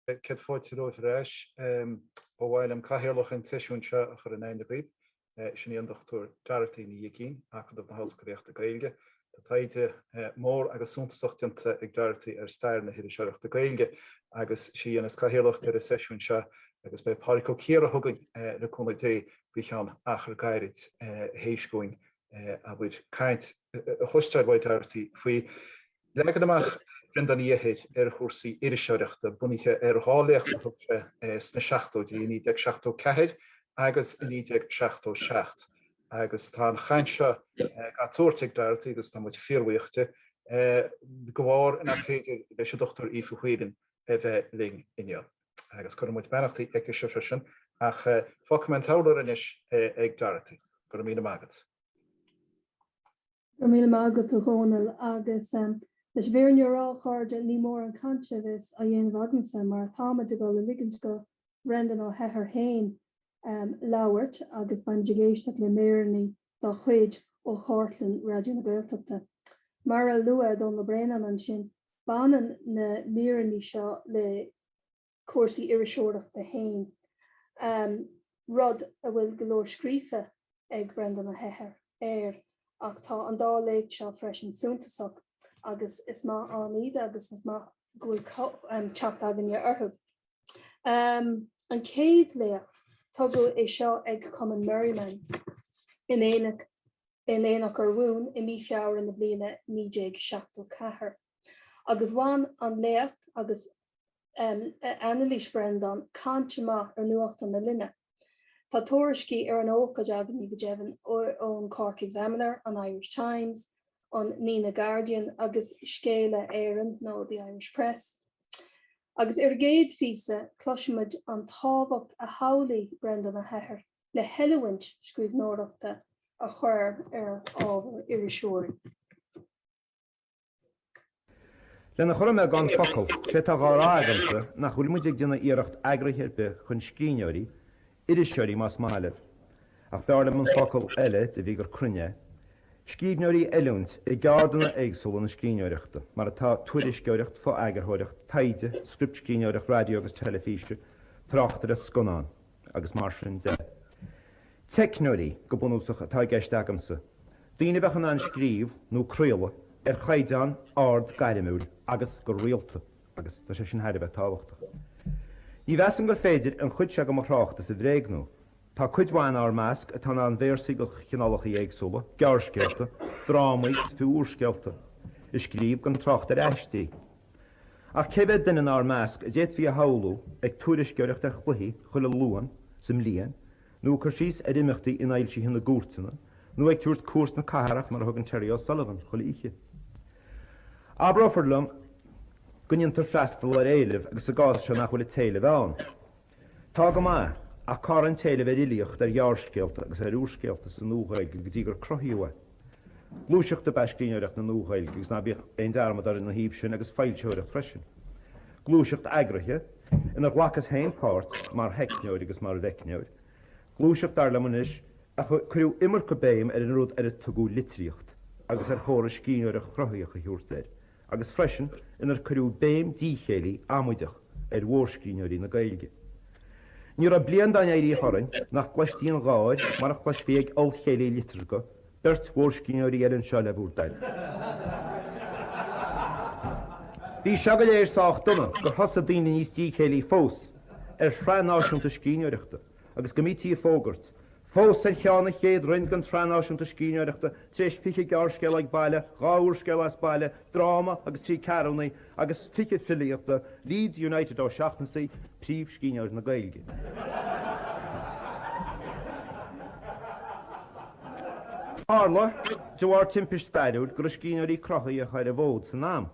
Céad fáilte romhaibh ar ais. Ba mhaith liom cathaoirleach an tseisiúin seo a chur in aithne dhaoibh. Sin í an Dr. Dorothy Ní Uigín, Acadamh na hOllscolaíochta Gaeilge. Tá taighde mór agus suntasach déanta ag Dorothy ar stair na hiriseoireachta Gaeilge agus is í a dhéanas cathaoirleacht ar an seisiúin seo agus beidh Pádraic Ó Ciardha chugainn, le cúnamh Dé, faoi cheann achar gairid théis dúinn, abair, caint a chloisteáil uaidh Dorothy faoi Leagan amach Bhreandáin Uí Eithir ar chúrsaí iriseoireachta bunaithe ar dhá léacht a thug sé sna seachtóidí, i 1974 agus i 1977, agus tá an chaint seo á tabhairt ag Dorothy, agus tá muid fíorbhuíoch di, de bharr nár féidir leis an Dr Aoife Whelan a bheith linn inniu. Agus cuireann muid beannachtaí aici-se freisin, ach fágfaidh mé an t-urlár anois ag Dorothy. Go raibh míle maith agat. Go raibh míle maith agat a Dhónaill agus leis an bhfírinne a rá a chairde ní mór an chaint seo a bheas á dhéanamh agamsa mar táimid ag dul a ligint go Bhreandán Ó hEithir féin labhairt agus beimid ag éisteacht le míreanna dá chuid ó chartlann Raidió na Gaeltachta. Mar a luaigh Dónall Ó Braonáin ansin baineann na míreanna seo le. cúrsaí iriseoireachta fhéin, rud a bhfuil go leor scríofa ag Breandán Ó hEithir air, ach tá an dá léacht seo freisin suntasach agus is maith ann iad agus is maith go bhfuil teacht againne orthu. An chéad léacht, tugadh é seo ag Cumann Merriman in Aonach, in Aonach Urmhumhan i mí Feabhra na bliana 1974 agus bhain an léacht agus. Anailís Bhreandáin, cáinteach go maith, ar nuachtáin na linne. Tá tuairiscí ar an ócáid againn go deimhin ón Cork Examiner, an Irish Times, an Nenagh Guardian agus Scéala Éireann nó The Irish Press. Agus ar an gcéad phíosa, cloisfimid an tábhacht a shamhlaigh Breandán Ó hEithir le hoiliúint scríbhneoireachta a chur ar ábhar iriseoirí. Lena chur i mbeagán focal, sé tá dhá rá agamsa nach bhfuil muid ag déanamh iarracht eagraithe ar bith chun scríbhneoirí, iriseoirí más maith libh, ach b'fhearr liom an focal eile de bhrí gur cruinne é, scríbhneoirí a oiliúint i gceardanna éagsúla na scríbhneoireachta, mar atá, tuairisceoireacht, fo-eagarthóireacht, taighde, scriptscríbhneoireacht raidió agus teilifíse, tráchtaireacht, scannán. agus mar sin de. Teicneoirí, go bunúsach, atá i gceist agamsa, daoine a bheadh in ann scríobh, nó craoladh, ar chaighdeán ard gairmiúil agus go rialta, agus tá sé sin thar a bheith tábhachtach. Ní mheasaim gur féidir an chuid seo de mo thráchtas a bhréagnú. Tá cuid mhaith in ár measc atá in ann véarsaí de chineálacha éagsúla, gearrscéalta, drámaí is fiú úrscéalta, a scríobh, gan trácht ar aistí. Ach cé mhéad duine inár measc a d'fhéadfaí a shamhlú ag tuairisceoireacht ar chluichí chuile Luan sa mbliain, nó ag cur síos ar imeachtaí infhoilsithe na gcúirteanna, nó ag tabhairt cuairt na cathrach mar a thugann Terry O'Sullivan chuile oíche? Abrófar liom go ndéantar freastal ar éilimh agus sa gcás seo nach bhfuil an t-éileamh ann. Tá go maith, ach cá raibh an t-éileamh ar fhilíocht, ar ghearrscéalta agus ar úrscéalta sa NuaGhaeilge go dtí gur cruthaíodh é? Gluaiseacht ab ea scríbhneoireacht na NuaGhaeilge agus ná bíodh aon dearmad orainn ina thaobh sin agus foilsitheoireacht freisin. Gluaiseacht eagraithe, inar ghlacas féin páirt mar theicneoir agus mar mheicneoir. Gluaiseacht, dar liom anois, ar cuireadh iomarca béim ar an rud ar a tugadh litríocht agus ar chóra scríbhneoireacht chruthaitheach a thiúrt air. agus freisin inar cuireadh béim díchéillí amaideach ar mhórscríbhneoirí na Gaeilge. Ní raibh bliain dá n-éiríodh tharainn nach gcloistí an gháir mar a chloisfí ag ollchéilí liteartha beirt mhórscríbhneoirí eile anseo le bhur dtoil. Bhí seo go léir sách dona gur thosaigh daoine níos díchéillí fós ar shraith náisiúnta scríbhneoireachta agus go mbítí ag fógairt Fós ar cheann an chéad roinn den tSraith Náisiúnta Scríbhneoireachta, tar éis fiche gearrscéal ag baile, dhá úrscéal as baile, dráma agus trí ceathrúnaí, agus fiche filíochta, Leeds United Ó Seachnasaigh, príomhscríbhneoir na Gaeilge. Tharla, de bharr timpist stairiúil, go raibh scríbhneoirí cruthaitheacha ar an bhfód san am,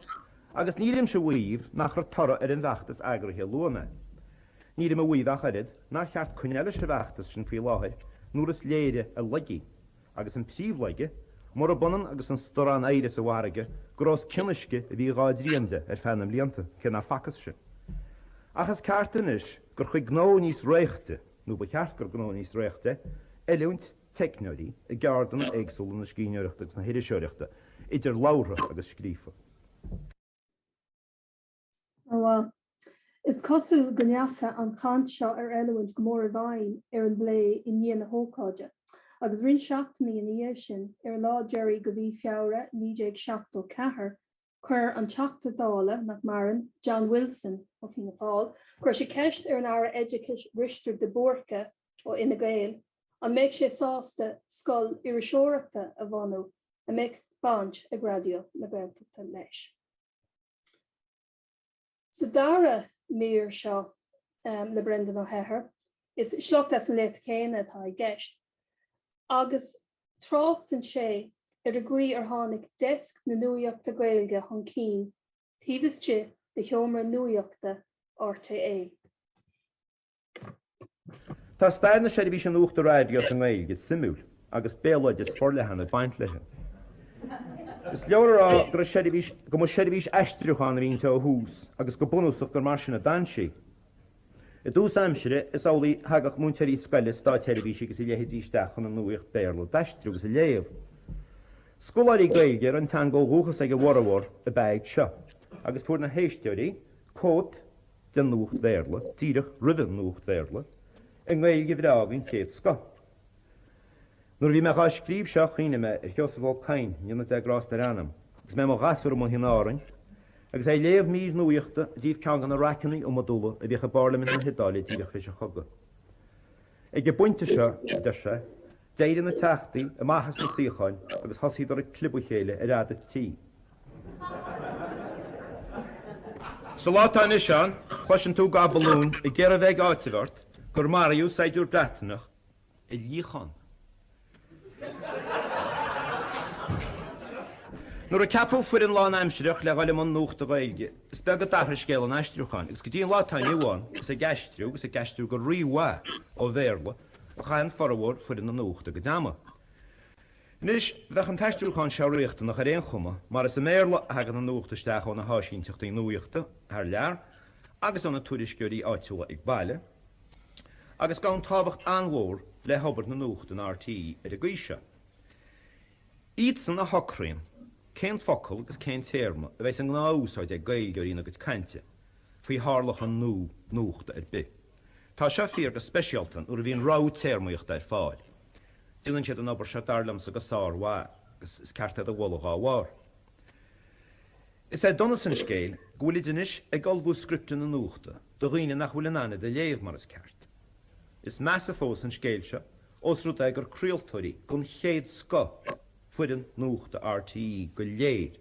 agus nílimse a mhaíomh nach raibh toradh ar an bhfeachtas eagraithe a luaigh mé. Nílim a mhaíomh ach oiread nár cheart coinneáil leis an bhfeachtas sin faoi láthair nuair is léire a laigí, agus an príomhlaige, murab ionann agus an starrán oighre sa bhfarraige, gur os cionn uisce a bhí dhá dtrian de ar feadh na mblianta, cé nár facthas sin. Ach is ceart anois gur gnó níos réichte, nó ba cheart gur gnó níos réichte é, oiliúint teicneoirí i gceárdanna éagsúla na scríbhneoireachta agus na hiriseoireachta, idir labhartha agus scríofa. Is cosúil go ndeacha an chaint seo ar oiliúint go mór i bhfeidhm ar an bplé i ndiaidh na hócáide, agus roinnt seachtainí ina dhiaidh sin, ar an lá deiridh de mhí Feabhra 1974, chuir an Teachta Dála, nach maireann, John Wilson, ó Fhianna Fáil, chuir sé ceist ar an Aire Oideachais Risteárd de Búrca, ó Fhine Gael, an mbeadh sé sásta scoil iriseoireachta a bhunú a mbeadh baint ag Raidió na Gaeltachta leis. Sa dara mír seo le Breandán Ó hEithir, is sliocht as an léacht chéanna atá i gceist, agus tráchtann sé ar an gcaoi ar tháinig Deisc na Nuaíochta Gaeilge chun cinn taobh istigh de sheomra nuaíochta RTÉ. Tá stair na seirbhíse nuachta raidió sa nGaeilge suimiúil agus béaloideas forleathan ag baint léi. Is leor a rá go raibh seirbhís, go mba seirbhís aistriúcháin a bhí inti ó thús agus go bunúsach gur mar sin a d'fhan sí. I dtús aimsire, is amhlaidh, thagadh múinteoirí scoile, státsheirbhísigh agus a leithéidí isteach chun an nuaíocht Béarla d'aistriú agus a léamh. Scoláirí Gaeilge a raibh an teanga ó dhúchas ag a bhformhór ab ea iad seo agus fuair na héisteoirí cóip den nuacht Bhéarla díreach roimhe an nuacht Bhéarla i nGaeilge bhreá den chéad scoth. Nuair a bhí mé dhá scríobh seo chuimhnigh mé ar Sheosamh Ó Cadhain go ndéana Dia grás ar a anam agus mé i mo ghasúr amuigh in Árainn agus é ag léamh mír nuaíochta i dtaobh ceann de na raiceanna iomadúla a bhíodh i bPairlimint na hIodáile díreach tar éis an chogaidh. Ag an bpointe seo, a deir sé, d'éirigh na teachtaí amach as na suíocháin agus thosaíodar ag clibeadh a chéile ar fhud an tí. Sa lá atá anois ann, cloiseann tú gach balún ag iarraidh a bheith ag áiteamh ort gur maraíodh saighdiúir Breataineach i luíochán. Nuair a ceapadh foireann lánaimsireach le dhul i mbun nuachta Gaeilge, is beag a d'athraigh scéal an aistriúcháin agus go dtí an lá atá inniu ann is ag aistriú agus ag aistriú go rí-mhaith ó Bhéarla a chaitheann formhór foireann na nuachta a gcuid ama. Anois, bheadh an t-aistriúchán seo riachtanach ar aon chuma mar is i mBéarla a thagann an nuacht isteach ó na háisínteachtaí nuaíochta thar lear agus ó na tuairisceoirí áitiúla ag baile, agus gabhann tábhacht an-mhór le hobair na nuachta in RTÉ ar an gcaoi seo. Iadsan a shocraíonn cén focal agus cén téarma a bheidh sa ngnáth-úsáid ag Gaeilgeoirí ina gcuid cainte faoi tharlachan nó nuachta ar bith. Tá seo fíor go speisialta nuair a bhíonn rogha téarmaíochta ar fáil. Déanann siad an obair seo dar liomsa go sár-mhaith agus is ceart iad a mholadh dá bharr. Is é donas an scéil go bhfuilid anois ag ullmhú scripteanna nuachta do dhaoine nach bhfuil in ann iad a léamh mar is ceart. Is measa fós an scéal seo ós rud é gur craoltóirí den chéad scoth foireann nuachta RTÉ go léir.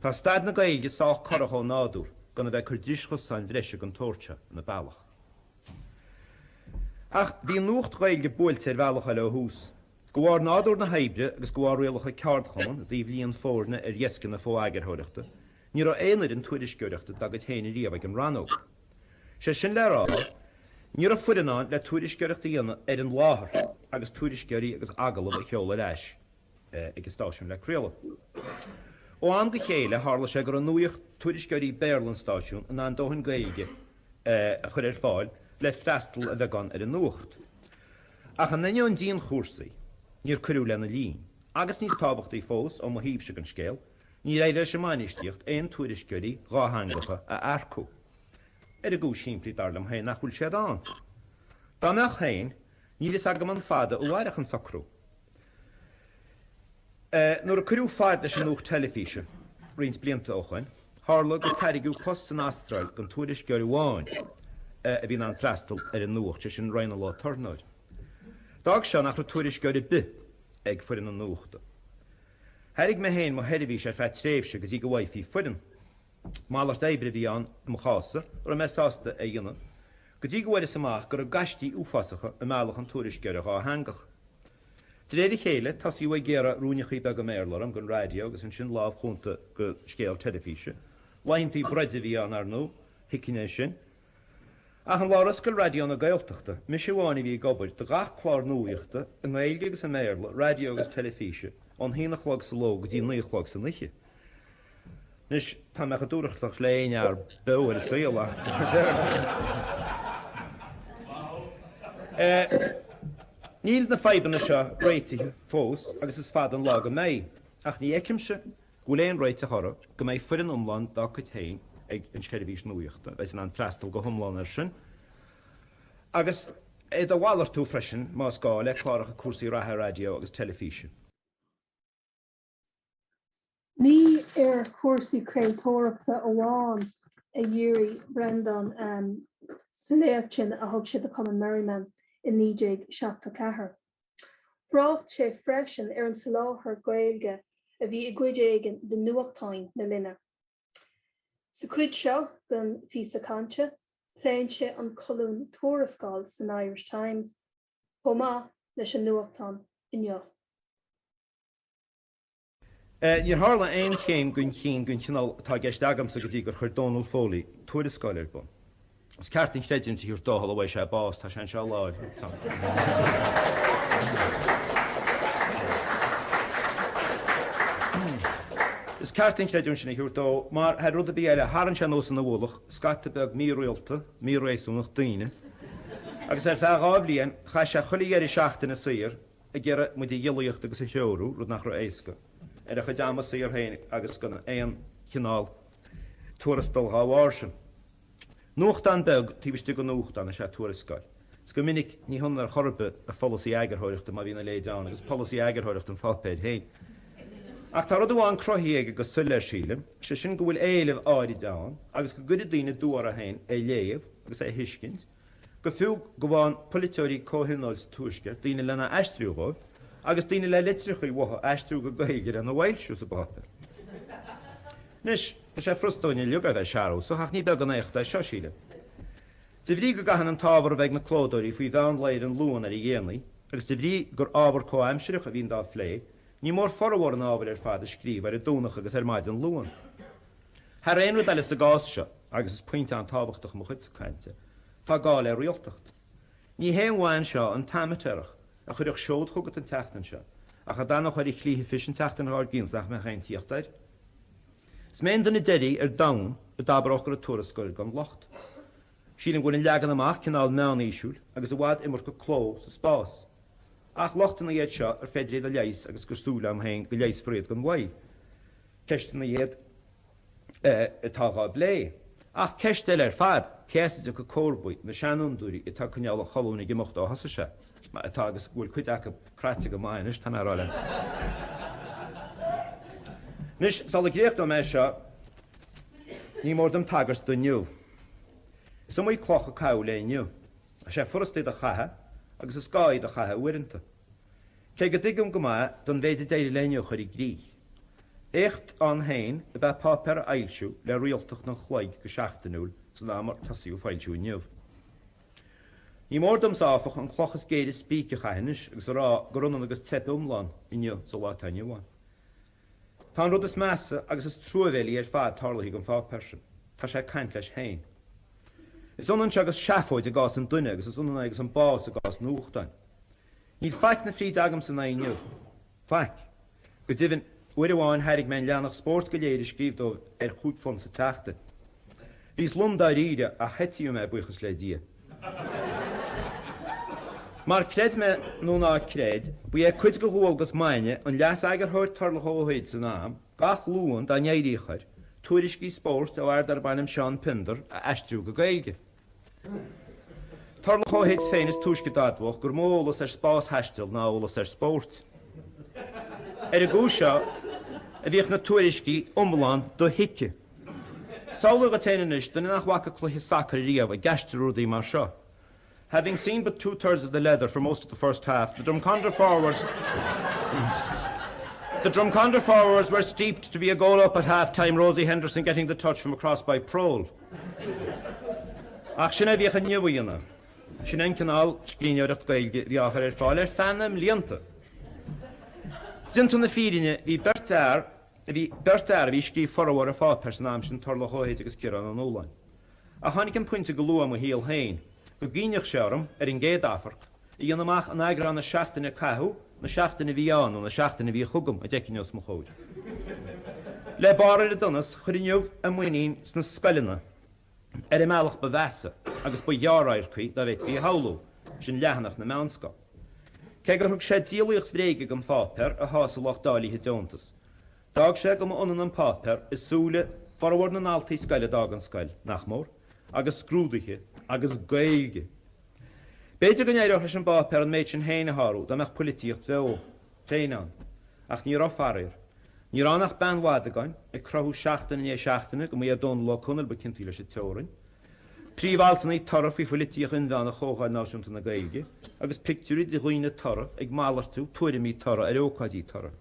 Tá staid na Gaeilge sách corrach ó nádúr gan a bheith ag cur dris chosáin bhreise den tsórt seo ina bealach. Ach bhí an nuacht Ghaeilge buailte ar bhealach eile ó thús. De bharr nádúr na hoibre agus de bharr rialacha ceardchumann i dtaobh líon foirne ar dheasceanna fo-eagarthóireachta, ní raibh aon fhoireann tuairisceoireachta dá gcuid féin riamh ag an Rannóg. Is é sin le rá, ní raibh foireann ann le tuairisceoireacht a dhéanamh ar an láthair agus tuairisceoirí agus agallamh a sheoladh ar ais ag an stáisiún le craoladh. Ó am go chéile tharla sé go raibh nuaíocht-tuairisceoirí Béarla an stáisiún in ann dóthain Gaeilge a chuir ar fáil le freastal a bheagán ar an nuacht. Ach in ainneoin dianchúrsaí, níor cuireadh lena líon, agus níos tábhachtaí fós ó mo thaobhsa den scéal, níor éirigh leis an mbainistíocht aon tuairisceoirí dátheangacha a earcú. Ar an gcúis shimplí, dar liom féin, nach bhfuil siad ann. Dá mbeadh féin, níl fhios agam an fada a mhairfeadh an socrú. Nuair a cuireadh fad leis an nuacht teilifíse roinnt blianta ó shoin, tharla gur tairgeadh post san Astráil don tuairisceoir amháin a bhí in ann freastal ar an nuacht, sé sin Raghnall Ó Tornóir. D'fhág seo nach raibh tuairisceoir ar bith ag foireann na nuachta. Thairg mé féin mo sheirbhís ar feadh tréimhse go dtí go bhfaighfí foireann. Malairt oibre a bhí ann i mo chás-sa a raibh mé sásta é a dhéanamh, go dtí go bhfuaireas amach go raibh gaistí uafásacha i mbealach an tuairisceora dhátheangaigh. De réir a chéile, tosaíodh ag gearradh ruainneachaí beaga i mBéarla orm don raidió agus ansin lámh chúnta do scéal teilifíse. Laethanta broide a bhí ann, ar ndó, thuiginn é sin? Ach an lá ar oscail Raidió na Gaeltachta, mise amháin a bhí ag obair do gach clár nuaíochta, i nGaeilge agus i mBéarla, raidió agus teilifíse, ón haon a chlog sa ló go dtí naoi a chlog san oíche. Anois, tá mé chomh dúthrachtach le aon fhear beo ar an saol ach níl na fadhbanna seo réitithe fós agus is fada an lá go mbeidh. Ach ní fheicimse Go bhfuil aon réiteach orthu, go mbeidh foireann iomlán dá cuid féin ag an tseirbhís nuaíochta a bheidh in ann freastal go hiomlán air sin agus iad a mhalartú freisin, más gá, le cláracha cúrsaí reatha raidió agus teilifíse. Ní ar chúrsaí craoltóireachta amháin a dhírigh Breandán sa léacht sin a thug sé do Chumann Merriman i 1974. Thrácht sé freisin ar an soláthar Gaeilge a bhí i gcuid éigin de nuachtáin na linne. Sa chuid seo den phíosa cainte, pléann sé an colún Tuarascáil san Irish Times chomh maith leis an nuachtán Inniu. Níor tharla aon chéim chun cinn den chineál atá i gceist agamsa go dtí gur chuir Donal Foley Tuarascáil ar bun. Is ceart an chreidiúint a thabhairt dó shula bhfaighe sé bás, tá sé anseo i láthair. Is ceart an chreidiúint sin a thabhairt dó mar, thar rud ar bith eile, tharraing sé anuas ina ualach scata beag mírialta, míréasúnach daoine agus ar feadh dhá bhliain chaith sé chuile dheireadh seachtaine saor, ag iarraidh muid a ghiollaíocht agus a threorú, rud nach raibh éasca, ar a chuid ama saor féin agus gan aon chineál tuarastail dhá bharr sin. Nuachtán beag taobh istigh de nuachtán is ea Tuarascáil, is go minic ní hionann ar chor ar bith a pholasaí eagarthóireachta, má bhíonn a leithéid ann, agus polasaí eagarthóireachta an pháipéir féin. Ach tá rud amháin cruthaithe aige go soiléir sílim, sé sin go bhfuil éileamh áirid ann agus go gcuirfidh daoine dua orthu féin é a léamh agus é a thuiscint, Go fiú go bhfaigheann polaiteoirí comhthionóil sa Tuaisceart daoine lena aistriú dhóibh, agus daoine le litreachaí uathu a aistriú go Gaeilge lena bhfoilsiú sa bpáipéar. Anois, tá sé frusta dúinn uilig a bheith searúsach, ach ní beag an éacht é seo, sílim. De bhrí go gcaitheann an t-ábhar a bheith ag na clódóirí faoi mheán lae ar an Luan ar a dhéanaí, agus de bhrí gur ábhar comhaimsireach a bhíonn dá phlé, ní mór formhór an ábhair ar fad a scríobh ar an Domhnach agus ar maidin Luan. Thar aon rud eile sa gcás seo, agus is pointe an-tábhachtach i mo chuidse cainte, tá gá le rialtacht. Ní haon mhaith anseo an t-amaitéarach a chuirfeadh seod chugat an tseachtain seo, ach a d'fhanfadh air a shlí a phis an tseachtain dhár gcionn is nach mbeadh aon tíocht air. Is mé an duine deiridh ar domhan a d'abródh go raibh Tuarascáil gan locht. Sílim go bhfuil an leagan amach cineál meánaoisiúil agus i bhfad iomarca cló sa spás. Ach lochtanna iad seo ar féidir iad a leigheas agus gur súil agam féin go leigheasfar iad gan mhoill. Ceisteanna iad atá dhá bplé, ach ceist eile ar fad, cé as a dtiocfaidh comharbaí na seanfhondúirí atá ag coinneáil an cholúin ag imeacht ó thosaigh sé, mar atá, agus go bhfuil cuid acu cráite go maith anois, tá mé ag rá leat. Anois, sula gcríochnóidh mé seo, ní mór dom tagairt do Inniu. Is iomaí cloch a caitheadh le Inniu. Tá sé furasta iad a chaitheamh agus is gá iad a chaitheamh uaireanta. Cé go dtuigim go maith don mhéid a d'éirigh le Inniu a chur i gcrích, éacht ann féin ab ea páipéar a fhoilsiú le rialtacht an chloig go seachtainiúil san am ar tosaíodh foilsiú Inniu. Ní mór domsa, áfach, an cloch is géire spíce a chaitheamh anois agus a rá gur ionann agus teip iomlán Inniu sa lá atá inniu ann. Tá an rud is measa agus is truamhéilí ar fad tarlaithe don pháipéar sin. Tá sé ag caint leis féin. Is ionann seo agus seafóid i gcás an duine agus is ionann é agus an bás i gcás nuachtáin. Níl faic na fríde agamsa in aghaidh Inniu. Faic. Go deimhin, uair amháin thairg mé an leathanach spóirt go léir a scríobh dóibh ar chúig phunt sa tseachtain. Bhíos lom dáiríre ach heitíodh mé, buíochas le Dia. Mar creid mé nó ná creid, ba é cuid de dhualgas maidne an Leas-Eagarthóir Tarlach Ó hUid san am, gach Luan, dá n-éiríodh air, tuairiscí spóirt ó fhear darb ainm Seán Piondar a aistriú go Gaeilge. Tarlach Ó hUid féin is túisce d'admhódh gur mó a eolas ar spástaisteal ná a eolas ar spórt. Ar an gcúis seo a bhíodh na tuairiscí iomlán dothuigthe. Samhlaigh duit fhéin anois, duine nach bhfaca cluiche sacair riamh, ag aistriú rudaí mar seo. Having seen but two thirds of the leather for most of the first half, the Drumcondra forwards were steeped to be a goal up at half time, Rosie Henderson getting the touch from a cross by Prole. Ach sin a bhíodh in Inniu, a aíonna. Sin an cineál scríbhneoireacht Gaeilge a bhí á chur ar fáil ar feadh na mblianta. Déanta na fírinne, bhí beirt fhear, Bhí beirt fhear a bhí ag scríobh formhór an pháipéir san am sin, Tarlach Ó hUid agus Ciarán Ó Nualláin. Ach tháinig an pointe go luath i mo shaol féin go gcinneadh sé orm, ar an gcéad amharc, a dhéanamh amach an eagrán na seachtaine a caitheadh, na seachtaine a bhí ann nó na seachtaine a bhí chugam, a d'fheicfinn os mo chomhair. Le barr ar an donas, chuir Inniu a muinín sna scoileanna. ar an mbealach ba mheasa agus ba ghearr-radharcaí dá bhféadfaí a shamhlú, sin leathanach na meánscol. Cé gur thug sé díolaíocht bhréige don pháipéar a shásaigh lucht dáilithe deontas, d'fhág sé go mba ionann an páipéar i súile formhór na ndaltaí scoile a d'fhág an scoil, nach mór, agus scrúduithe agus Gaeilge. B'fhéidir go n-éireodh leis an bpáipéar an méid sin féin a shárú dá mbeadh poilitíocht bheo. féin ann. Ach ní raibh, faraor. Ní raibh ann ach Beann Mhadagáin, ag cruthú seachtain i ndiaidh seachtaine go mba é Dónall Ó Conaill ba ciontaí leis an teorainn. Príomhaltannaí tura faoi phoilitíocht inmheánach Chomhdháil Náisiúnta na Gaeilge agus pictiúirí de dhaoine tura ag malartú tuairimí tura ar ócáidí tura.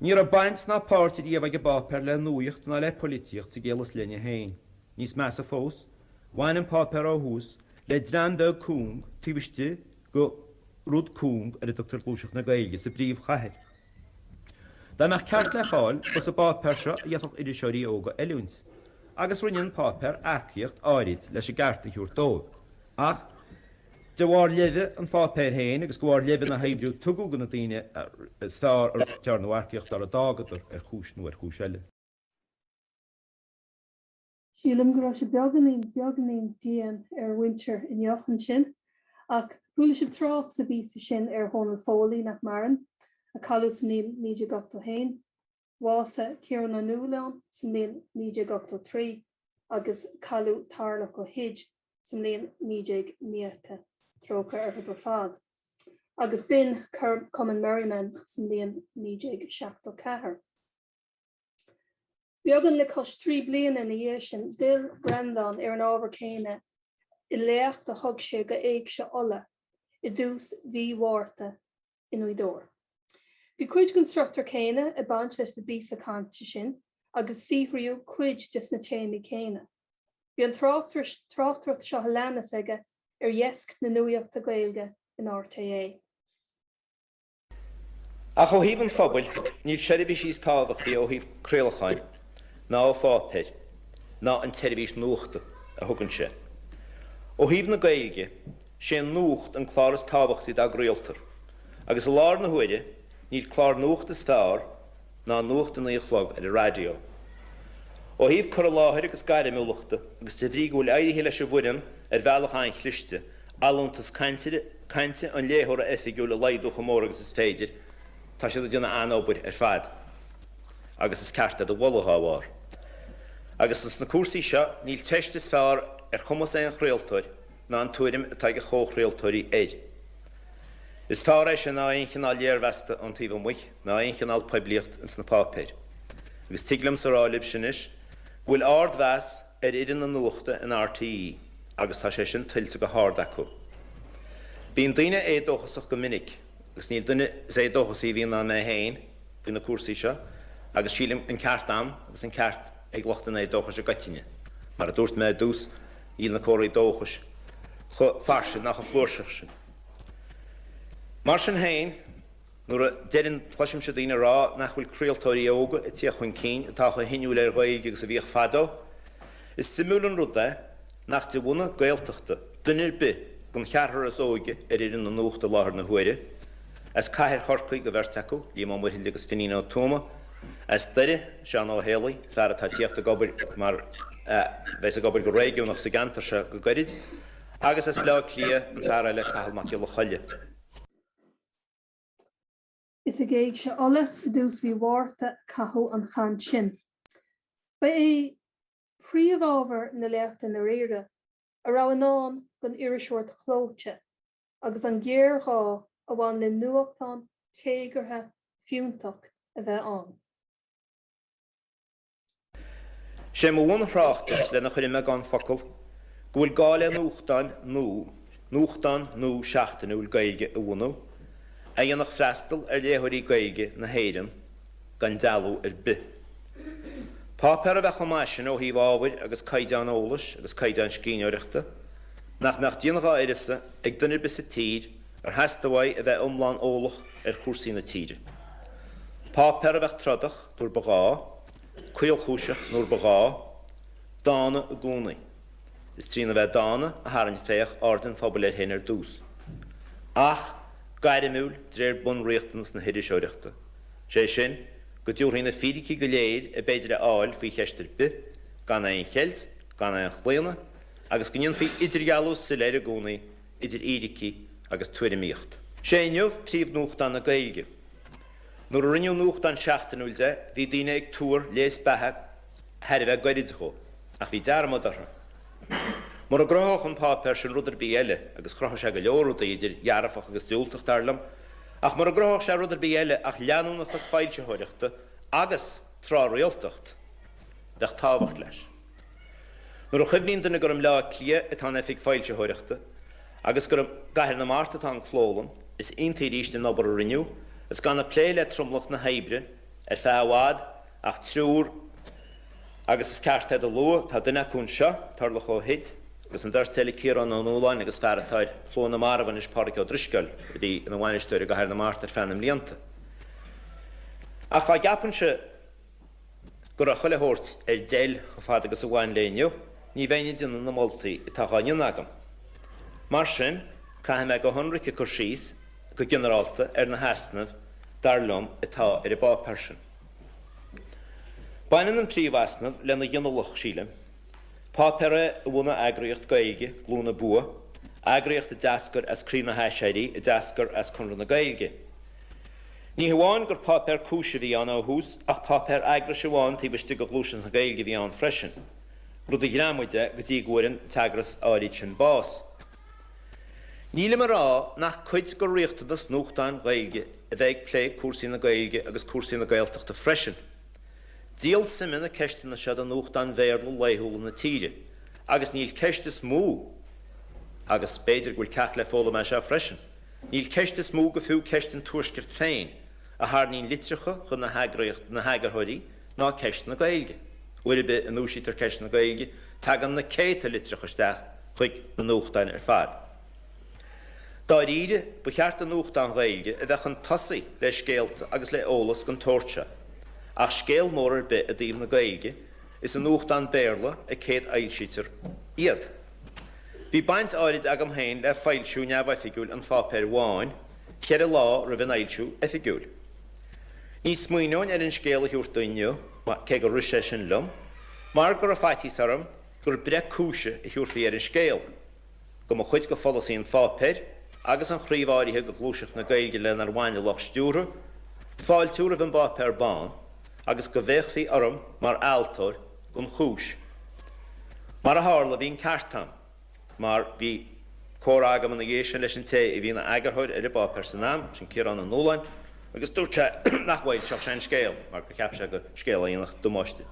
Ní raibh baint ná páirt riamh ag an bpáipéar le nuaíocht ná le poilitíocht sa gcéill is leithne féin. Níos measa fós, bhain an páipéar ó thús le dream beag cúng taobh istigh de rud cúng ar a dtugtar Gluaiseacht na Gaeilge sa bpríomhchathair. Dá mbeadh ceart le fáil, is sa bpáipéar seo a gheobhadh iriseoirí óga oiliúint, agus rinne an páipéar earcaíocht áirid leis an gceart a thabhairt dóibh, ach de bharr leimhe an pháipéir féin agus de bharr leimhe na hoibre a tugadh do na daoine is fearr ar dearnadh earcaíocht orthu d'fhágadar ar chúis nó ar chúis eile. Sílim go raibh sé beagáinín, beagáinín dian ar mhuintir Inniu ansin. Ach chuala sibh trácht sa bpíosa sin ar Dhónal Foley, nach maireann, a cailleadh sa mbliain 1981. Bhásaigh Ciarán Ó Nualláin sa mbliain 1983 agus cailleadh Tarlach Ó hUid sa mbliain 1990, trócaire orthu ar fad, agus b'in Cumann Merriman sa mbliain 1974. Beagán le cois trí bliana ina dhiaidh sin, d'fhill Breandán ar an ábhar céanna i léacht a thug sé do Éigse Uladh i dtús mhí Mhárta i nGaoth Dobhair. Bhí cuid den struchtúr céanna ag baint leis na bpíosa cainte sin agus saothraíodh cuid des na téamaí céanna. Bhí an tráchtaireacht seo a leanas aige ar dheasc na nuaíochta Gaeilge in RTÉ. Ach ó thaobh an phobail, níl seirbhís níos tábhachtaí ó thaobh craolacháin ná ó pháipéir ná an tseirbhís nuachta a thugann sé. Ó thaobh na Gaeilge, sé an nuacht an clár is tábhachtaí dá gcraoltar, agus i láthair na huaire níl clár nuachta is fearr ná nuacht a naoi a chlog ar an raidió. Ó thaobh cur i láthair agus gairmiúlachta, agus de bhrí go bhfuil éirithe leis an bhfoireann ar bhealach an-chliste, allúntas cainte an léitheora oifigiúil a laghdú chomh mór agus is féidir, tá siad ag déanamh an-obair ar fad. Agus is ceart iad a mholadh dá bharr. Agus ins na cúrsaí seo, níl teist is feárr ar chumas aon chraoltóir ná an tuairim atá ag a chomh-chraoltóirí air. Is feárr é sin ná aon chineál léirmheasta ón taobh amuich. ná aon chineál poiblíocht ins na páipéir, agus tig liom-sa rá libhse anois go bhfuil árd-mheas ar fhoireann na nuachta in R. T. É. agus tá sé sin tuillte go hárd acu. Bíonn daoine éadóchasach go minic, agus níl duine is éadóchasaí a bhíonn ná mé féin faoi na cúrsaí seo, agus sílim an ceart a'm agus an ceart ag lucht an éadóchais i gcoitinne. Mar a dúirt mé i dtús, níl na comharthaí dóchais chomh fairsing ná chomh flúirseach sin. Mar sin féin. Nuair a deireann, cloisimse daoine ag rá nach bhfuil craoltóirí óga ag téacht chun cinn atá chomh hinniúil ar Ghaeilge agus a bhíodh fadó. Is suimiúil an rud é nach de bhunadh Gaeltachta duine ar bith den cheathrar is óige ar fhoireann na Nuachta i láthair na huaire, as cathair Chorcaí do bheirt acu, Liam Ó Muirthile agus Finín Ó Tuama, as Doire, Seán Ó hÉalaí, fear atá ag téacht ag obair mar a bheas ag obair go réigiúnach sa gceantar seo go gairid, agus as Bleá Cliath, an fear eile, Cathal Mac Coille. Is ag Éigse Uladh i dtús mhí Mhárta a caitheadh an chaint sin. Ba é príomhábhar na léachta i ndáiríre a raibh i ndán don iriseoireacht chlóite agus an géarghá a bhain le nuachtán téagartha fiúntach a bheith ann. Sé mo bhun-thráchtas, lena chur i mbeagán focal, go bhfuil gá le nuachtán nua, nuachtán nua seachtainiúil Gaeilge a bhunú, a dhéanfadh freastal ar léitheoirí Gaeilge na hÉireann gan dealú ar bith. Páipéar a bheadh chomh maith sin ó thaobh ábhair agus caighdeán eolais agus caighdeán scríbhneoireachta, nach mbeadh déanamh dhá uireasa ag duine ar bith sa tír ar theastaigh uaidh a bheith iomlán eolach ar chúrsaí na tíre. Páipéar a bheadh trodach. nuair ba ghá, caolchúiseach nuair ba ghá, dána i gcónaí. Is trína bheith dána a tharraing Féach aird an phobail air féin ar dtús. Ach gairimiúil d'réir bunriachtanais na hiriseoireachta, sé sin, go dtabharfaí na fíricí go léir ab fhéidir a fháil faoi cheist ar bith, gan aon cheilt, gan aon chlaonadh, agus go ndéanfaí idirdhealú soiléir i gcónaí idir fhíricí agus tuairimíocht. Sé Inniu príomhnuachtán na Gaeilge. Nuair a rinneadh nuachtán seachtainiúil de, bhí daoine ag tuar léas beatha thar a bheith gairid dhó, ach bhí dearmad orthu. Mura gcruthódh an páipéar sin rud ar bith eile, agus chruthaigh sé go leor rudaí idir dhearfach agus diúltach, dar liom, ach mura gcruthódh sé rud ar bith eile ach leanúnachas foilsitheoireachta agus tráthrialtacht, bheadh tábhacht leis. Nuair a chuimhníonn duine gur i mBleá Cliath atá an oifig foilsitheoireachta agus gur i gCathair na Mart atá an clólann, is iontaí arís ná an obair a rinneadh is gan ag plé le tromlach na hoibre ar feadh i bhfad ach triúr agus is ceart iad a lua, tá duine acu anseo, Tarlach Ó hUid, agus an bheirt eile, Ciarán Ó Nualláin agus fear atá ar Shlua na Marbh anois, Pádraig Ó Drisceoil, a bhí ina bhainisteoir i gCathair na Mart ar feadh na mblianta. Ach dá gceapfainnse. Go raibh chuile shórt ar deil chomh fada agus a bhain le Inniu, ní bheinn ag déanamh na moltaí atá á ndéanamh agam. Mar sin, caithfidh mé go hionraic cur síos, go ginearálta, ar na heasnaimh, dar liom, atá ar an bpáipéar sin. Baineann an príomh easnamh lena ghinealach, sílim. Páipéar é a bhunaigh eagraíocht Gaeilge, Glúin na Bua, eagraíocht a d'eascair as Craobh na hAiséirí, a d'eascair as Conradh na Gaeilge. Ní hamháin gur páipéar cúise a bhí ann ó thús ach páipéar eagrais amháin taobh istigh de Ghluaiseacht na Gaeilge a bhí ann freisin, rud a ghreamaigh de go dtí go bhfuair an t-eagras áiríd sin bás. Nílim ag rá nach cuid de riachtanas nuachtáin Ghaeilge a bheith ag plé cúrsaí na Gaeilge agus cúrsaí na Gaeltachta freisin. Díol suime na ceisteanna seo do nuachtáin Bhéarla laethúla na tíre agus níl ceist is mó agus b'fhéidir go bhfuil ceacht le foghlaim as seo freisin. Níl ceist is mó, go fiú ceist an Tuaiscirt féin a tharraingíonn litreacha chun na heagraíocht, na heagarthóirí ná ceist na Gaeilge. Uair ar bith a ndúisítear ceist na Gaeilge tagann na céadta litreacha isteach chuig na nuachtáin ar fad. Dáiríre, ba cheart do nuachtán Gaeilge a bheith chun tosaigh le scéalta agus le eolas den tsórt seo. Ach scéal mór ar bith i dtaobh na Gaeilge, is i nuachtáin Béarla a chéadfhoilsítear iad. Bhí baint áirid agam féin le foilsiú neamhoifigiúil an pháipéir bháin ceithre lá roimh an fhoilsiú oifigiúil. Ní smaoineoinn ar an scéal a thabhairt do Inniu, cé gur rith sé sin liom, mar go raibh faitíos orm gur breith cúise a thabharfaí ar an scéal, go mba chuid de pholasaí an pháipéir agus an chraobh áirithe de ghluaiseacht na Gaeilge lenar bhain a lucht stiúrtha fáiltiú roimh an bpáipéar bán agus go bhféachfaí orm mar fhealltóir an chúis. Mar a tharla, bhí an ceart a'm, mar bhí comhrá agam ina dhiaidh sin leis an té a bhí ina eagarthóir ar an bpáipéar san am, sin Ciarán Ó Nualláin, agus dúirt sé nach bhfoilseodh sé an scéal mar gur cheap sé gur scéal a dhéanfadh damáiste.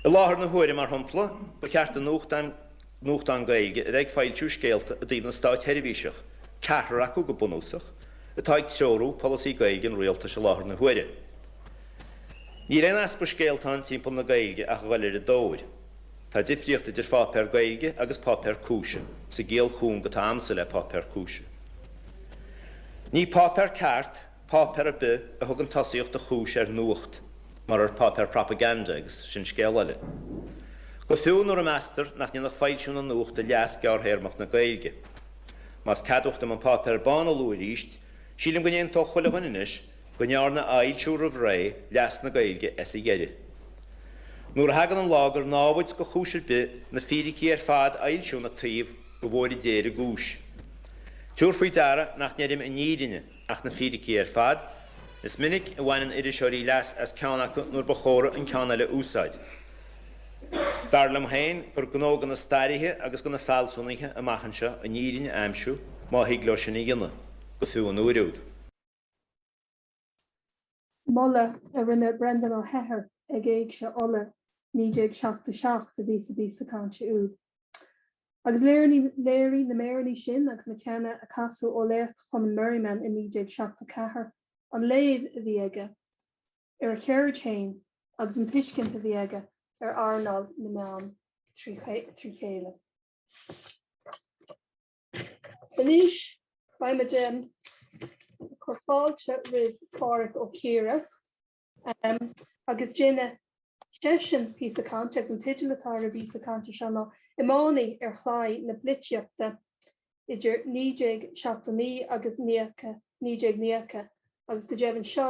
I láthair na huaire, mar shompla, ba cheart do nuachtán Gaeilge, a bheith ag foilsiú scéalta i dtaobh na státsheirbhíseach, ceathrar acu go bunúsach, atá ag treorú polasaí Gaeilge an Rialtais i láthair na huaire. Níl aon easpa scéalta ann timpeall na Gaeilge ach a ghoil ar a dtóir. Tá difríocht idir pháipéar Gaeilge agus páipéar cúise, sa gciall chúng atá agamsa le páipéar cúise. Ní páipéar ceart páipéar ar bith a thugann tosaíocht do chúis ar nuacht, marar páipéar propaganda agus sin scéal eile. Go fiú nuair a meastar nach ndéanfadh foilsiú na nuachta leas gearrthéarmach na Gaeilge. Más ceadmhach dom an páipéar bán a lua arís, sílim go n-aontódh chuile dhuine anois, go ndearna a fhoilsiú roimh ré leas na Gaeilge as a dheireadh. Nuair a thagann an lá gur námhaid go chúis ar bith na fíricí ar fad a fhoilsiú ina taobh, go bhfóire Dia ar an gcúis. Tabhair faoi deara nach ndeirim an fhírinne, ach na fíricí ar fad. Is minic a bhaineann iriseoirí leas as ceann acu nuair ba chóra an ceann eile a úsáid. Dar liom féin gur gnó do na stairithe agus do na fealsúnaithe amach anseo an fhírinne a aimsiú, má thig leo sin a dhéanamh, go fiú an uair úd. Moladh a rinne Breandán Ó hEithir ag Éigse Uladh 1977 a bhí sa bpíosa cainte úd. Agus léirigh na míreanna sin agus na ceanna a casadh ó léacht Chumann Merriman i 1974 an léamh a bhí aige ar a cheird féin agus an tuiscint a bhí aige ar earnáil na meán trí chéile. Anois beimid ag cur fáilte roimh Phádhraic Ó Ciardha agus déanfaidh seisean píosa cainte agus an teideal atá ar an bpíosa cainte seo ná Iománaí ar Chlaí na Polaitíochta idir 1979 agus 1990 agus go deimhin seo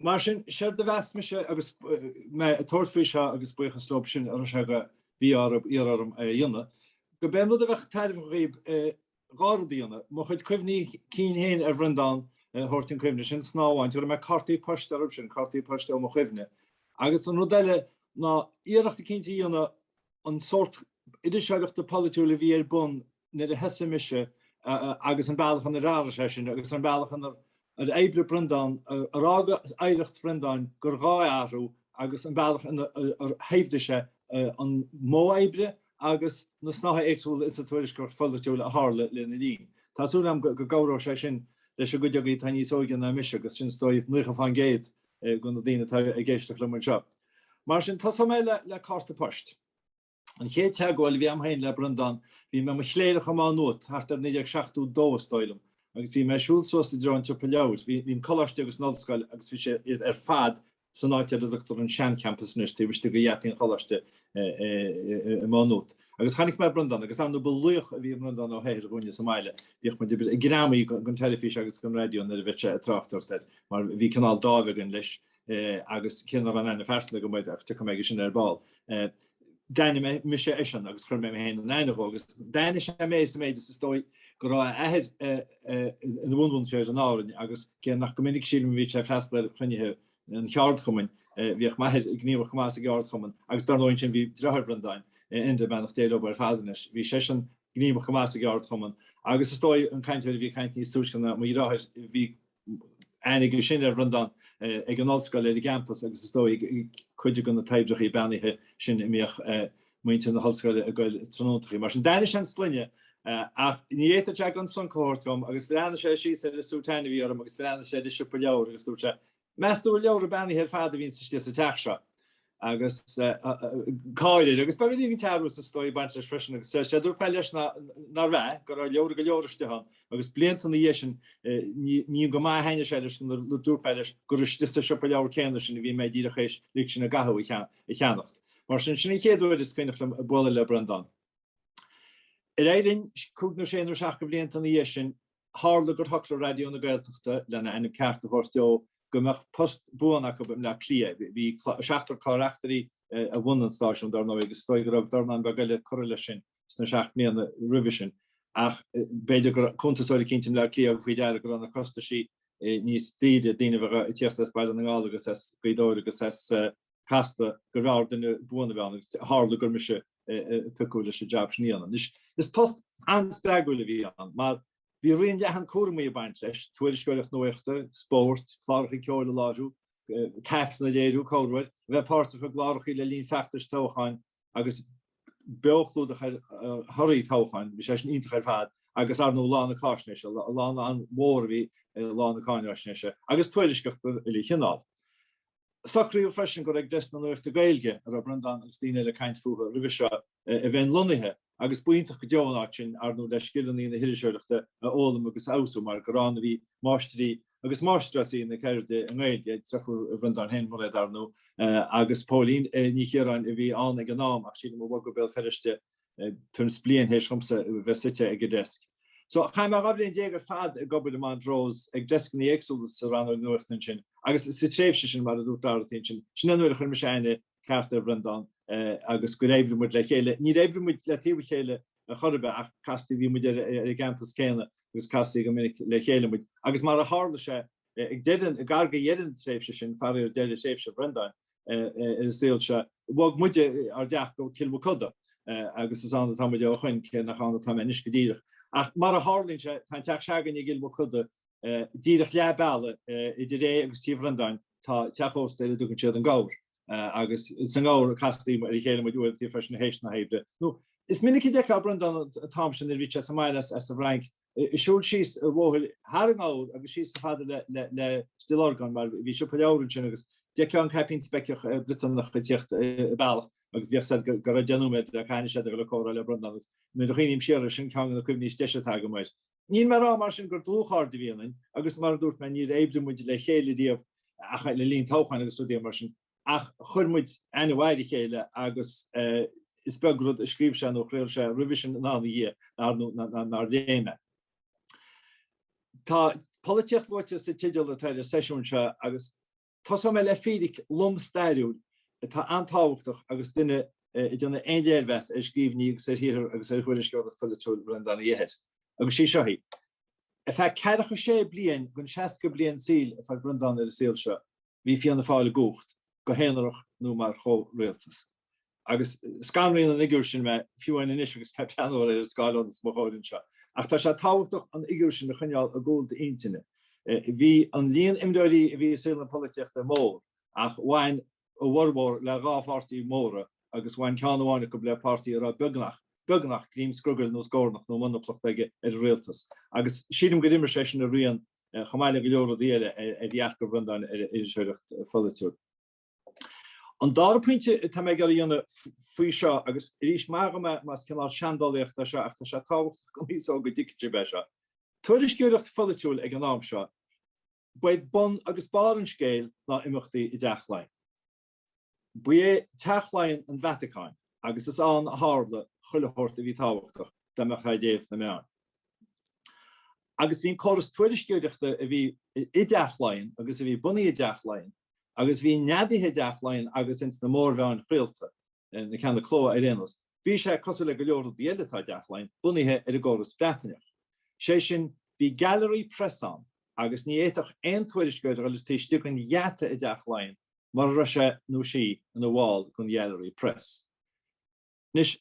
Mar sin, séard a mheas mise agus mé ag tabhairt faoi seo, agus buíochas leo sin a raibh sé de mhí-ádh orthu iarraidh orm é a dhéanamh, go mb'é an rud a bheadh tairbheach dhaoib, dhá rud a dhéanamh, mo chuid cuimhní cinn féin ar Bhreandán a thabhairt chun cuimhne, sin snáth amháin, tabharfaidh mé cártaí poist orthu sin, cártaí poist ó mo chuimhne. Agus an rud eile ná iarracht eicínt a dhéanamh an sórt iriseoireachta polaitiúil a bhí ar bun nuair a thosaigh mise agus an bealach inar athraigh sé sin agus an bealach inar oibrigh Breandán, ar fhág oidhreacht Bhreandáin gur ghá é a athrú agus an bealach inar shaibhrigh sé an modh oibre agus na snáithe éagsúla insa tuairisceoireacht pholaitiúil a tharla lena linn. Tá súil agam go gcabhróidh sé sin leis an gcuid agaí atá níos óige ná mise agus sin is dóigh 90% de na daoine atá ag éisteacht liom anseo. Mar sin, tosóidh mé le cárta poist. An chéad teagmháil a bhí a'm féin le Breandán, bhí mé i mo chléireach i Má Nuat, thart ar 1972 is dóigh liom, agus bhí mé ag siúl suas i dtreo an tsiopa leabhar, bhí an coláiste agus an ollscoil agus bhí sé ar fad san áit ar a dtugtar an sean-champas anois, taobh istigh de gheataí an choláiste i Má Nuat. Agus chonaic mé Breandán agus dar ndóigh ba laoch a bhí i mBreandán Ó hEithir dhúinne sa mbaile, bhíodh muid greamaithe den teilifís agus den raidió nuair a bhíodh sé ag tráchtaireacht air, mar bhí cineál dáimh againn leis. agus cé nach raibh aon aithne phearsanta agam air ach tiocfaidh mé aige sin ar ball. D'aithnigh mise eisean agus chuir mé mé féin in aithne dhó agus d'aithnigh sé mé sa méid is is dóigh go raibh a athair ina bhunmhúinteoir in Árainn agus cé nach go minic a sílim a bhíodh sé freastal ar chruinnithe an cheardchumainn, bhíodh m'athair gníomhach chomh maith sa gceardchumann agus dar ndóigh ansin bhí deartháir Bhreandáin, Enda, beannacht Dé leo ar fad anois. Bhí seisean gníomhach chomh maith sa gceardchumann agus is dóigh an cainteoir a bhí ag caint níos túisce ná mo dheartháir, bhí aithne aige sin ar Bhreandán ag an ollscoil ar an gcampas agus is dóigh cuid de na toibreachaí beannaithe sin a mbíodh muintir na hollscoile ag goil tráthnóntachaí. Mar sin d'aithnigh sé an sloinne ach ní fhéadfadh sé gan sonc a thabhairt dhom agus bhreathnaigh sé síos ar an sútán a bhí orm agus bhreathnaigh sé ar an siopa leabhar agus dúirt sé, Meas tú an leabhra beannaithe ar fad a bhíonns istigh sa teach seo? agus gáire agus beagán searbhais is dóigh ag baint leis freisin agus deir sé, dúirt mé leis nárbh ea, go raibh leabhra go leor istigh ann agus blianta ina dhiaidh sin ní go maith a thaitnigh sé leis nuair dúirt mé leis gur istigh sa siopa leabhar céanna sin a bhí mé díreach théis Lig Sinn i gCathú a cheannacht. Mar sin, sin an chéad uair is cuimhneach liom bualadh le Breandán. Déarfainn cúig nó sé nó seacht de bhlianta ina dhiaidh sin, tharla gur shocraigh Raidió na Gaeltachta, lena ainm ceart a thabhairt dó, go mbeadh post buan acu i mBleá Cliath. Bhí seachtar clár-reachtairí a bhunaigh an stáisiún, dar ndóigh, agus is dóigh go raibh dornán beag eile ag cur leis sin sna seacht mbliana roimhe sin, ach b'fhéidir go raibh cuntasóir eicínt i mBleá Cliath a thug faoi deara go raibh na costaisí níos daoire, daoine a bheith ag tíocht as Baile na nGall agus as Gaoth Dobhair agus as. Casla gurbh fhearr duine buan a bheith ann agus tharla gur mise a piocadh leis an jab sin a dhéanamh. Anois, is post an-spreagúil a bhí ann mar bhí raon leathan cúramaí ag baint leis, tuairisceoireacht nuachta, spórt, cláracha ceoil a láithriú, taifeadh a léiriú, comhar, a bheith páirteach i gclárachaí le linn feachtais toghcháin agus beochlúdach ar thorthaí toghcháin, bhí sé sin iontach ar fad, agus ar ndóigh lá na cáisnéise, lá an-mhór a bhí i lá na cáinaisnéise, agus tuairisceacha chuile chineál. Socraíodh freisin gur ag Deisc na Nuachta Gaeilge, a raibh Breandán agus daoine eile ag caint fúthu roimhe seo, a bheinn lonnaithe, agus ba iontach go deo an áit sin, arnú le scileanna na hiriseoireachta a fhoghlaim agus a fheabhsú, mar gur ann a bhí máistrí agus máistreásaí na ceirde i nGaeilge, deirfiúr Bhreandáin féin, Mairéad arnú, agus Póilín Ní Chiaráin, a bhí ann ag an am, ach sílim a bhog go Béal Feirste tuairim is bliain théis dhomsa bheith suite ag an deisc. So, chaith mé dhá bhliain déag ar fad ag obair i Montrose ag deisceanna éagsúla sa rannóg nuachta ansin agus sa tréimhse sin, mar a dúirt Dorothy ansin, sin an uair a chuir mise aithne ceart ar Bhreandán agus gur oibrigh muid le chéile. Níor oibrigh muid le taobh a chéile chor ar bith ach casta bhí muid ar an gcampas céanna agus castaí go minic le chéile muid. Agus mar a tharla sé, ag deireadh, gar do dheireadh na tréimhse sin, faraor deireadh thréimhse Bhreandáin, ar an saol seo. Bhog muid ár dteach go Cill Mochuda agus is ann atá muid ó shoin, cé nach ann atá mé anois go díreach. Ach mar a tharlaíonn sé, tá an teach s'againn i gCill Mochuda, díreach leath bealaigh idir é agus tigh Bhreandáin, tá teach ósta ar a dtugann siad an Gabhar agus sa nGabhar a castaí muid, ar a chéile muid uaireanta freisin théis na hoibre. Nó is minic a d'fheicfeá Breandán an t-am sin nuair a bhí sé sa mbaile as an bhFrainc siúl síos a' bhóthair thar an nGabhar agus síos chomh fada le, le, le Stillorgan mar bhí siopa leabhar ansin agus d'fheicfeá an caipín speiceach Briotanach a' tíocht a bealach agus bhí a fhios a'd go, go raibh deich nóiméad le caitheamh ansin agat le comhrá le Breandán agus nuair a chuimhním siar air, sin ceann de na cuimhní is deise atá agam air. Níl mé rá mar sin gur dlúthchairde a bhí ionainn agus mar a dúirt mé níor oibrigh muid le chéile riamh ach le linn toghcháin agus rudaí mar sin. ach chuir muid aithne ar a chéile agus is beag rud a scríobh sé nó a chraol sé roimhe sin ná ina dhiaidh nár léigh mé. Tá polaitíocht luaite sa teideal atá ar an seisiún seo agus tosóidh mé le fíric lom stairiúil atá an-tábhachtach agus duine ag déanamh aon léirmheas ar scríbhinní agus ar shaothar agus ar thuairisceoireacht pholaitiúil Bhreandáin Uí Eithir, agus is í seo í. Ar feadh ceathracha sé bliain den seasca bliain saoil a fuair Breandán ar an saol seo, bhí Fianna Fáil i gcumhacht, go haonarach nó mar chomhrialtas. Agus scanraíonn an fhigiúr sin mé, fiú amháin anois agus mé ag breathnú ar an scáileán os mo chomhair anseo. Ach tá sé tábhachtach an fhigiúr sin a choinneáil i gcúl d'intinne. Bhí an líon imreoirí a bhí i saol na polaitíochta mór, ach bhain a bhformhór le dhá pháirtí mhóra agus bhain ceann amháin acu le páirtí a raibh beagnach, beagnach, greim scrogaill nó scornach nó monaplacht aige ar an rialtas. Agus sílim gur imir sé sin a rian. chomh maith le go leor rudaí eile ar dhearcadh Bhreandáin ar iriseoireacht pholaitiúil. An dara pointe atá mé ag iarraidh a dhéanamh faoi seo, agus arís maithigí dhom más cineál seandálaíocht é seo ach tá sé tábhachtach don aos óg go dtuigfidh sibh é seo, tuairisceoireacht pholaitiúil ag an am seo ba é bun agus barr an scéil ná imeachtaí i dTeach Laighean. Ba é Teach Laighean an Vatacáin agus is ann a tharla chuile shórt a bhí tábhachtach dá mbeadh aird ar na meáin. Agus bhí an córas tuairisceoireachta a bhí i dTeach Laighean agus a bhí bunaithe i dTeach Laighean agus a bhí neadaithe i dTeach Laighean agus ins na mórmheáin chraolta, na ceanna cló ar aon nós, bhí sé, cosúil le go leor rudaí eile atá i dTeach Laighean, bunaithe ar an gcóras Breataineach. Sé sin, bhí gallery press ann agus ní fhéadfadh aon tuairisceoir dul taobh istigh den gheata i dTeach Laighean mara raibh sé nó sí ina bhall den Ghallery Press. Anois,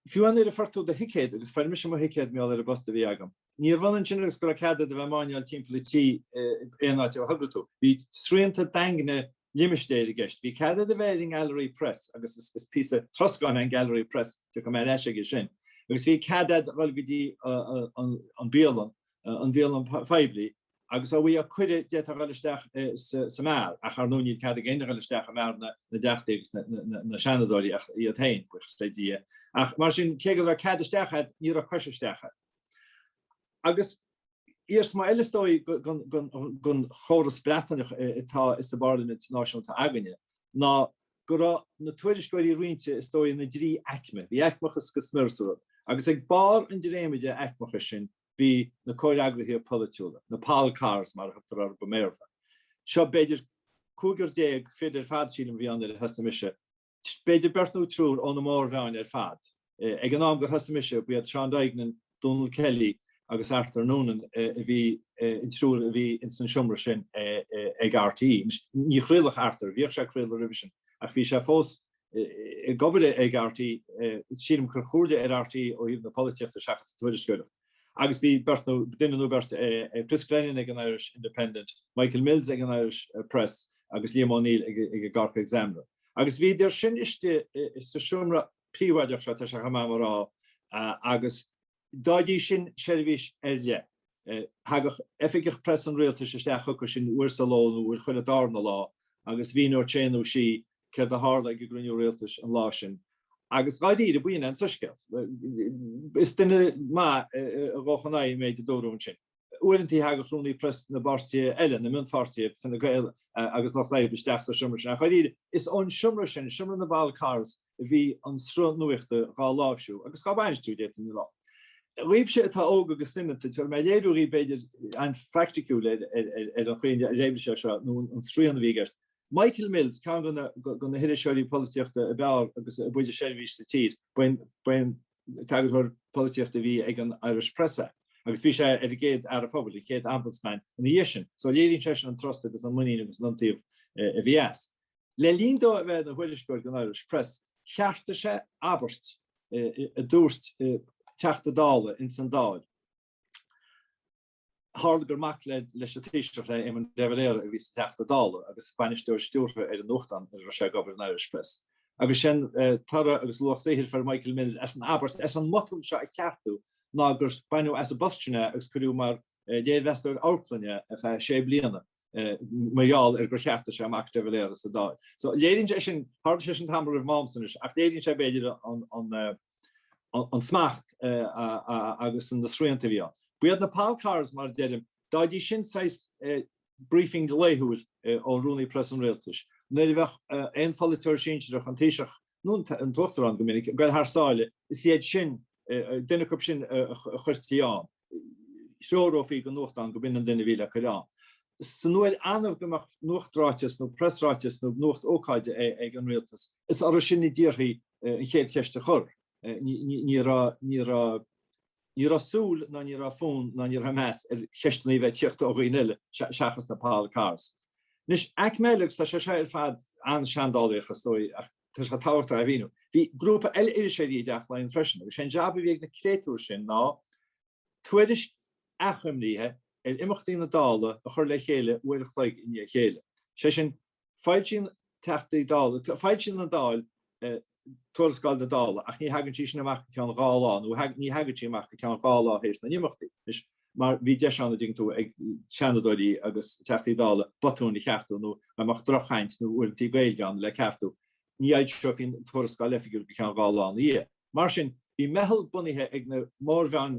fiú nuair a fuair tú do thicéad, agus fuair mise mo thicéad mar gheall ar an bpost a bhí agam, níorbh ionann sin agus go raibh cead a'd a bheith ag máinneáil timpeall an tí aon áit a thogair tú. Bhí srianta daingne limistéir i gceist. Bhí cead a'd a bheith ar an nGallery Press, agus is píosa troscáin é an Gallery Press, tiocfaidh mé ar ais aige sin, agus bhí cead a'd a dhul go dtí an bialann, an bhialann phoiblí, Agus dá bhfaighfeá cuireadh, d'fhéadfá a dhul isteach sa mbeár, ach ar ndóigh níl cead ag éinne a dhul isteach i mbeár na dteachtaí agus na seanadóirí ach iad féin, buíochas le Dia. Ach mar sin, cé go raibh cead isteach agat, ní raibh cois isteach agat. Agus iarsma eile is dóigh den chóras Breataineach atá sa bparlaimint náisiúnta againne ná go raibh na tuairisceoirí roinnte is dóigh ina dtrí aicme. Bhí aicmeachas go smior sa rud. Agus ag barr an dréimire aicmeachais sin, Bhí na comhfhreagraithe polaitiúla, na Pol Corrs mar a thugtar orthu i mBéarla, seo, b'fhéidir cúigear déag fir ar fad sílim a bhí ann nuair a thosaigh mise, b'fhéidir beirt nó triúr ó na mórmheáin ar fad. Ag an am gur thosaigh mise, ba iad Seán Duignan, Donal Kelly agus Arthur Noonan a bhí an triúr a bhí ins an seomra sin ag RTÉ. Ní chraolfadh Arthur, bhíodh sé ag craoladh roimhe sin, ach bhí sé fós ag obair ag RTÉ, sílim cur chuige RTÉ ó thaobh na polaitíochta seachas an tuairisceoireacht. Agus bhí beirt nó duine nó beirt, Chris Glennon ag an Irish Independent, Michael Mills ag an Irish Press agus Liam O'Neill ag an Cork Examiner. Agus bhíodar sin istigh sa seomra príobháideach seo, tá sé chomh maith dhom a rá, agus D'fhaighidís sin, seirbhís ar leith. Thagadh oifigeach preas an Rialtais isteach chucu sin uair sa ló nó uair chuile darna lá agus mhíneodh sé nó sí céard a tharla ag an gcruinniú Rialtais an lá sin. Agus dháiríre, ba shin é an soiscéal. Is duine maith a ghabhfadh in aghaidh an méid a dúradh ansin. Uaireantaí thagadh rúnaí preas na bpáirtithe eile, na mionpháirtithe, Fine Gael agus Lucht Oibre, isteach sa seomra sin. Ach dháiríre, is ón seomra sin, seomra na bPol Corrs, a bhí an sruth nuachta dhá láimhsiú, agus dhá bhainistiú, d'fhéadfainn a rá. Dhaoibhse atá óg agus soineanta, tabharfaidh mé léiriú dhaoibh, b'fhéidir, an-phraicticiúil ar an chaoi ar oibrigh sé seo, nó an srian a bhí i gceist. Michael Mills, ceann de na hiriseoirí polaitíochta ab fhearr agus ab fhuide seirbhís sa tír, ba é an. t-eagarthóir polaitíochta a bhí ag an Irish Press é agus bhí sé ar an gcéad Fhear an Phobail, an chéad Ombudsman ina dhiaidh sin, so léiríonn sé sin an trust agus an muinín agus an iontaoibh a bhí as. Le linn dó a bheith ina thuairisceoir don Irish Press, cheartaigh sé abairt a dúirt Teachta Dála ins an Dáil. Tharla gur mac leis an Taoiseach Éamon de Valera a bhí sa Teachta Dála agus bainisteoir stiúrtha ar an nuachtán ina raibh sé ag obair, an Irish Press. Agus sin toradh agus luach saothair a fuair Michael Mills as an abairt, as an mbotún seo a cheartú, ná gur baineadh as an bposta sin é agus cuireadh é mar léirmheastóir amharclainne ar feadh sé bliana. mar gheall ar gur cheartaigh sé mac de Valera sa Dáil. So léiríonn sé sin, tharla sé sin tamall roimh m'amsa anois, ach léiríonn sé b'fhéidir an smacht agus na srianta a bhí ann. Ba iad na pol corrs, mar a deirim, d'fhaighidís sin saghas briefing laethúil ó Rúnaí Preas an Rialtais, nuair a bheadh aon pholaiteoir sinsearach an Taoiseach nó an tUachtarán go minic, ag goil thar sáile, is iad sin, duine acub sin a chuirtí ann, threorófaí do nuachtán go b'in an duine a bhí le cur ann. San uair annamh go mbeadh nuachtráiteas nó preasráiteas nó nuacht ócáide ag an Rialtas, is orthu sin a d'iarrtaí an chéad cheist a chur. Ní raibh, ní raibh, ní raibh súil ná ní raibh fonn ná ní raibh meas ar cheisteanna a bheith ag tíocht ó dhaoine eile seachas na pol corrs. Anois, aicme eile, agus tá sé seo ar fad an-seandálaíoch, is dóigh, ach tá sé tábhachtach a mhíniú, bhí grúpa eile iriseoirí i dTeach Laighean freisin, agus sé an jab a bhí ag na créatúir sin ná tuairisc achoimríthe ar imeachtaí na Dála a chur le chéile uair a chloig i ndiaidh a chéile. Sé sin, foilsítear, Teachtaí Dála, foilsíonn an Dáil, Tuarascáil na Dála, ach ní thagann sí sin amach go ceann dhá lá, nó ní thagann sí amach go ceann dhá lá tar éis na n-imeachtaí. Anois, mar bhí deis ann, an dtuigeann tú ag Seanadóirí agus Teachtaí Dála botúin a cheartú nó a mbeadh drochchaint nó uaireantaí Gaeilge ann le ceartú, ní fhoilseofaí tuarascáil oifigiúil go ceann dhá lá ina dhiaidh. Mar sin, bhí meitheal bunaithe ag na mórmheáin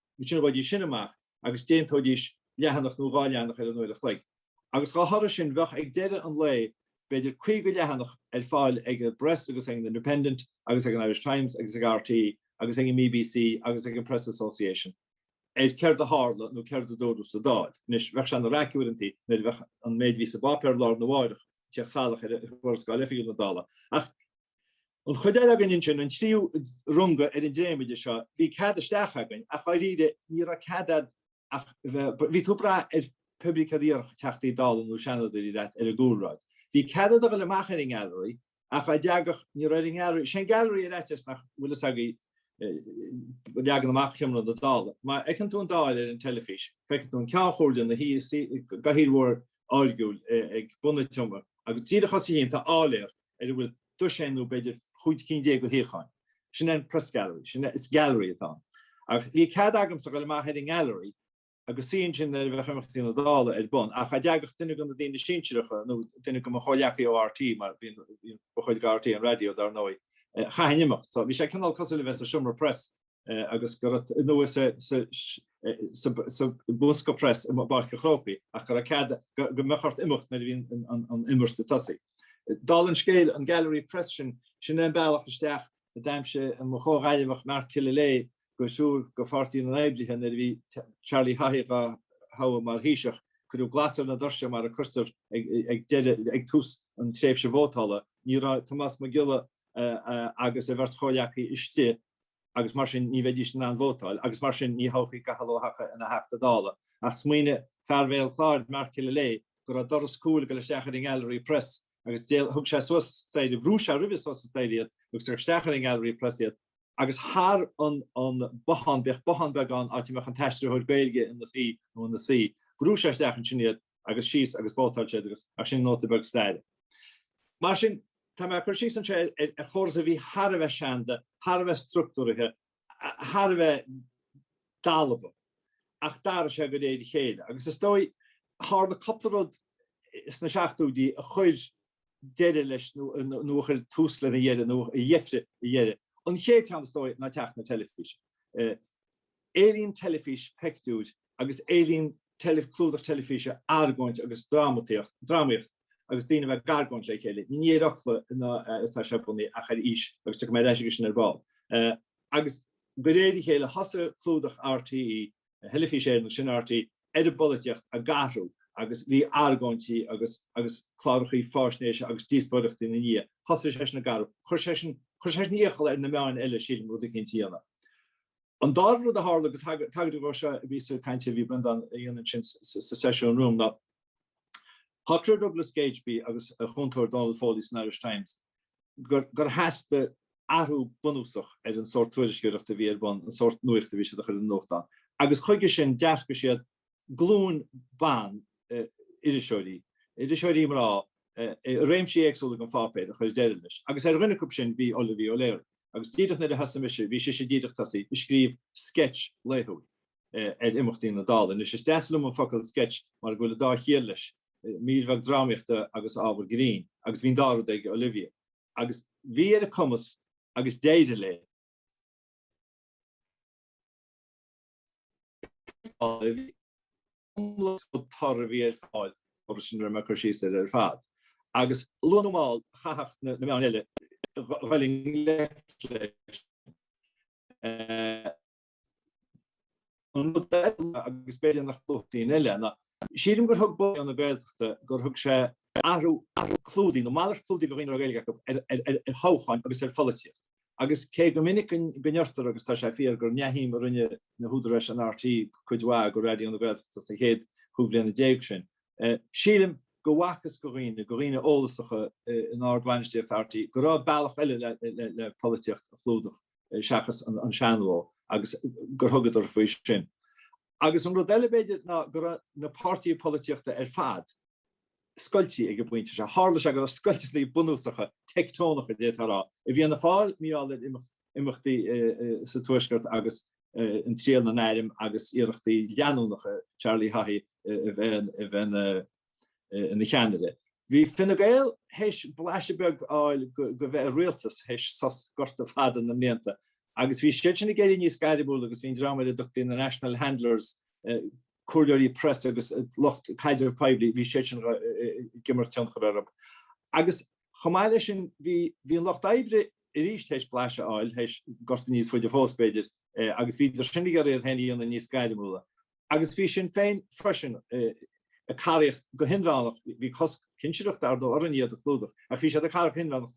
Bhídís sin amach agus dhéanaidís leathanach nó dhá leathanach ar an uair a chloig. Agus dá thoradh sin, bheadh ag deireadh an lae b'fhéidir 50 leathanach ar fáil ag an bPress agus ag an Independent agus ag an Irish Times agus ag RTÉ agus ag an mBBC agus ag an Press Association ar céard a tharla nó céard a dúradh sa Dáil. Anois, bheadh sé ana raic uaireantaí nuair a bheadh an méid a bhí sa bpáipéar lá arna mháireach ag tíocht salach ar Thuarascáil Oifigiúil na Dála. Ach. An chuid eile againn ansin, an tríú runga ar an dréimire seo, bhí cead isteach againn ach dháiríre ní raibh cead a'd ach bheith, bhí tú ag brath ar pé ar bith céard a dhéarfadh Teachtaí Dála nó Seanadóirí leat ar an gcúlráid. Bhí cead a'd a dhul amach ar an ngealraí ach dá dteagadh, ní raibh ar an ngealraí, is é an gealraí ar fhaitíos nach bhfuil fhios agaibh, leagan amach sheomra na Dála. Má fheiceann tú an Dáil ar an teilifís, feicfidh tú an Ceann Chomhairle ina shuí i gcathaoir mhór áirgiúil ag bun a tseomra agus díreach os a chionn tá áiléar, ar a bhfuil doiséin nó b'fhéidir chúig cinn déag de shuíocháin. Sin é an Press Gallery. Sin é, is gallery atá ann. Ach bhí cead agamsa dul amach ar an ngallery agus suí ansin nuair a bheadh imeachtaí na Dála ar bun, ach cha dteagadh duine de na daoine sinsearacha nó duine de mo chomhleacaí ó RT mar bhíonn ba chuid de RT an raidió dar ndóigh, eh, chaithfinn imeacht. So bhí sé cineál cosúil le bheith sa seomra press agus go raibh tú anuas sa Bosca Press i bPáirc an Chrócaigh ach go gcaithfeá, go mbeadh ort imeacht nuair a bhí an imirt ag tosaí. Dála an scéil, an Gallery Press sin, sin é an bealach isteach a d'aimsigh mo chomhghaillimheach Mark Killilea go thriúr de Pháirtí na nOibrithe nuair a bhí Charlie Haughey dhá thoghadh mar Thaoiseach. Cuireadh glas ar na doirse mar a cuirtear ag, ag tús an tréimhse vótála. Ní raibh Tomás Mac Giolla agus a bheirt chomhghleacaí istigh agus mar sin ní bheidís in ann vótáil agus mar sin ní thoghfaí Cathal Ó hEochaidh ina Theachta Dála. Ach smaoinigh fear Bhéal Chláir, Mark Killilea, go raibh doras cúil ag dul isteach ar an nGallery Press agus thug sé suas staighre, bhrú sé roimhe suas an staighre iad agus chuir isteach ar an nGallery Press iad agus thar an bothán, bhíodh bothán beag ann áit a mbeadh an t-aistritheoir Gaeilge ina shuí nó ina suí, bhrú sé isteach ansin iad. agus síos agus vótáil siad agus ach sin nóta beag staire. Mar sin, tá mé ag cur síos anseo ar chóras a bhí thar a bheith seanda, thar a bheith structúraithe, thar a bheith dalba ach d'athraigh sé de réir a chéile agus is dóigh tharla cúpla rud sna seachtóidí a chuir deireadh leis nó a chuir tús lena dheireadh nó a dheifrigh a dheireadh. An chéad cheann is dóigh ná teacht na teilifíse. Éilíonn teilifís peictiúir agus éilíonn clúdach teilifíse argóint agus drámataíocht, drámaíocht agus daoine a bheith ag argóint le chéile. Ní ar fhocla atá sé bunaithe ach ar fhís agus tiocfaidh mé ar ais aige sin ar ball. Agus de réir a chéile thosaigh clúdach RTÉ, Theilifís Éireann agus ansin RTÉ, ar an bpolaitíocht ag athrú agus bhí argóintí agus agus clárachaí fáisnéise agus díospóireachtaí ina ndiaidh. Thosaigh sé sin ag athrú. Chuir sé sin chuir sé sin iachall ar na meáin eile sílim rud eicínt a dhéanamh. An dara rud a tharla agus tagraíodh dó seo, bhí sa gcaint a bhí Breandán a dhéanamh ansin sa seisiún romham ná, shocraigh Douglas Gageby agus a chúntóir Donal Foley san Irish Times gur theastaigh athrú bunúsach ar an sórt tuairisceoireachta a bhí ar bun, an sórt nuachta a bhí siad a chur ar an nuachtán. Agus chuige sin d'earcaigh siad glúin ban iriseoirí, iriseoirí mná, i réimsí éagsúla den pháipéar a chuir deireadh leis. Agus ar dhuine acu sin bhí Olivia O'Leary. Agus díreach nuair a thosaigh mise bhí sise díreach tosaithe ag scríobh sketch laethúil. ar imeachtaí na Dála. Anois is deas liom an focal sketch mar go bhfuil an dá chiall leis, mír bheag drámaíochta agus ábhar grinn, agus bhí an dá rud ag Olivia. Agus bhí ar a cumas agus d'éirigh léi. B'fhearr léi iomlán is rud torr a bhí ar fáil agus sin a raibh mé ag cur síos air ar fad. Agus luath nó mall chaithfeadh na meáin eile dul i ngleic leis, An rud eile, agus b'fhéidir nach luafadh daoine eile, ná sílim gur thug Raidió na Gaeltachta, gur thug sé athrú clúdaigh, nó malairt clúdaigh do dhaoine a raibh Gaeilge acu, ar thoghcháin agus ar pholaitíocht. Agus cé go minic go ndeirtear, agus tá sé fíor, gur neamhshuim a rinne na húdaráis in RTÉ cuid mhaith go Raidió na Gaeltachta sna chéad chúig bhliana déag sin, sílim go bhfacthas go dhaoine, go dhaoine eolasacha in ard-bhainistíocht RTÉ, go raibh bealach eile le polaitíocht a chlúdach. seachas an seanchló agus gur thugadar faoi sin. Agus an rud eile b'fhéidir ná go raibh na páirtithe polaitíochta ar fad scoiltí ag an bpointe seo. Tharla sé go raibh scoilteanna bunúsacha, teicteonacha, d'fhéadfá a rá, i bhFianna Fáil, mar gheall ar imeachtaí sa Tuaisceart agus an triail na n-airm agus iarrachtaí leanúnacha Charlie Haughey a bheith ina ina cheannaire. Bhí Fine Gael théis blaiseadh beag a fháil go bheith i rialtas théis sos gorta fada na mblianta agus bhí siad sin ag éirí níos gairmiúla agus bhí an dream ar a dtugtaí na National Handlers, comhairleoirí preasa agus lucht caidrimh poiblí, bhí siad sin ag imirt tionchar orthu. Agus chomh maith leis sin bhí an Lucht Oibre arís théis blaiseadh a fháil théis gorta níos faide fós b'fhéidir agus bhíodar sin ag iarraidh iad féin a dhéanamh níos gairmiúla. agus bhí Sinn Féin freisin ag caraíocht go hinmheánach, bhí cosc cinsireachta ar ndóigh orainn iad a chlúdach, ach bhí siad ag caraíocht go hinmheánach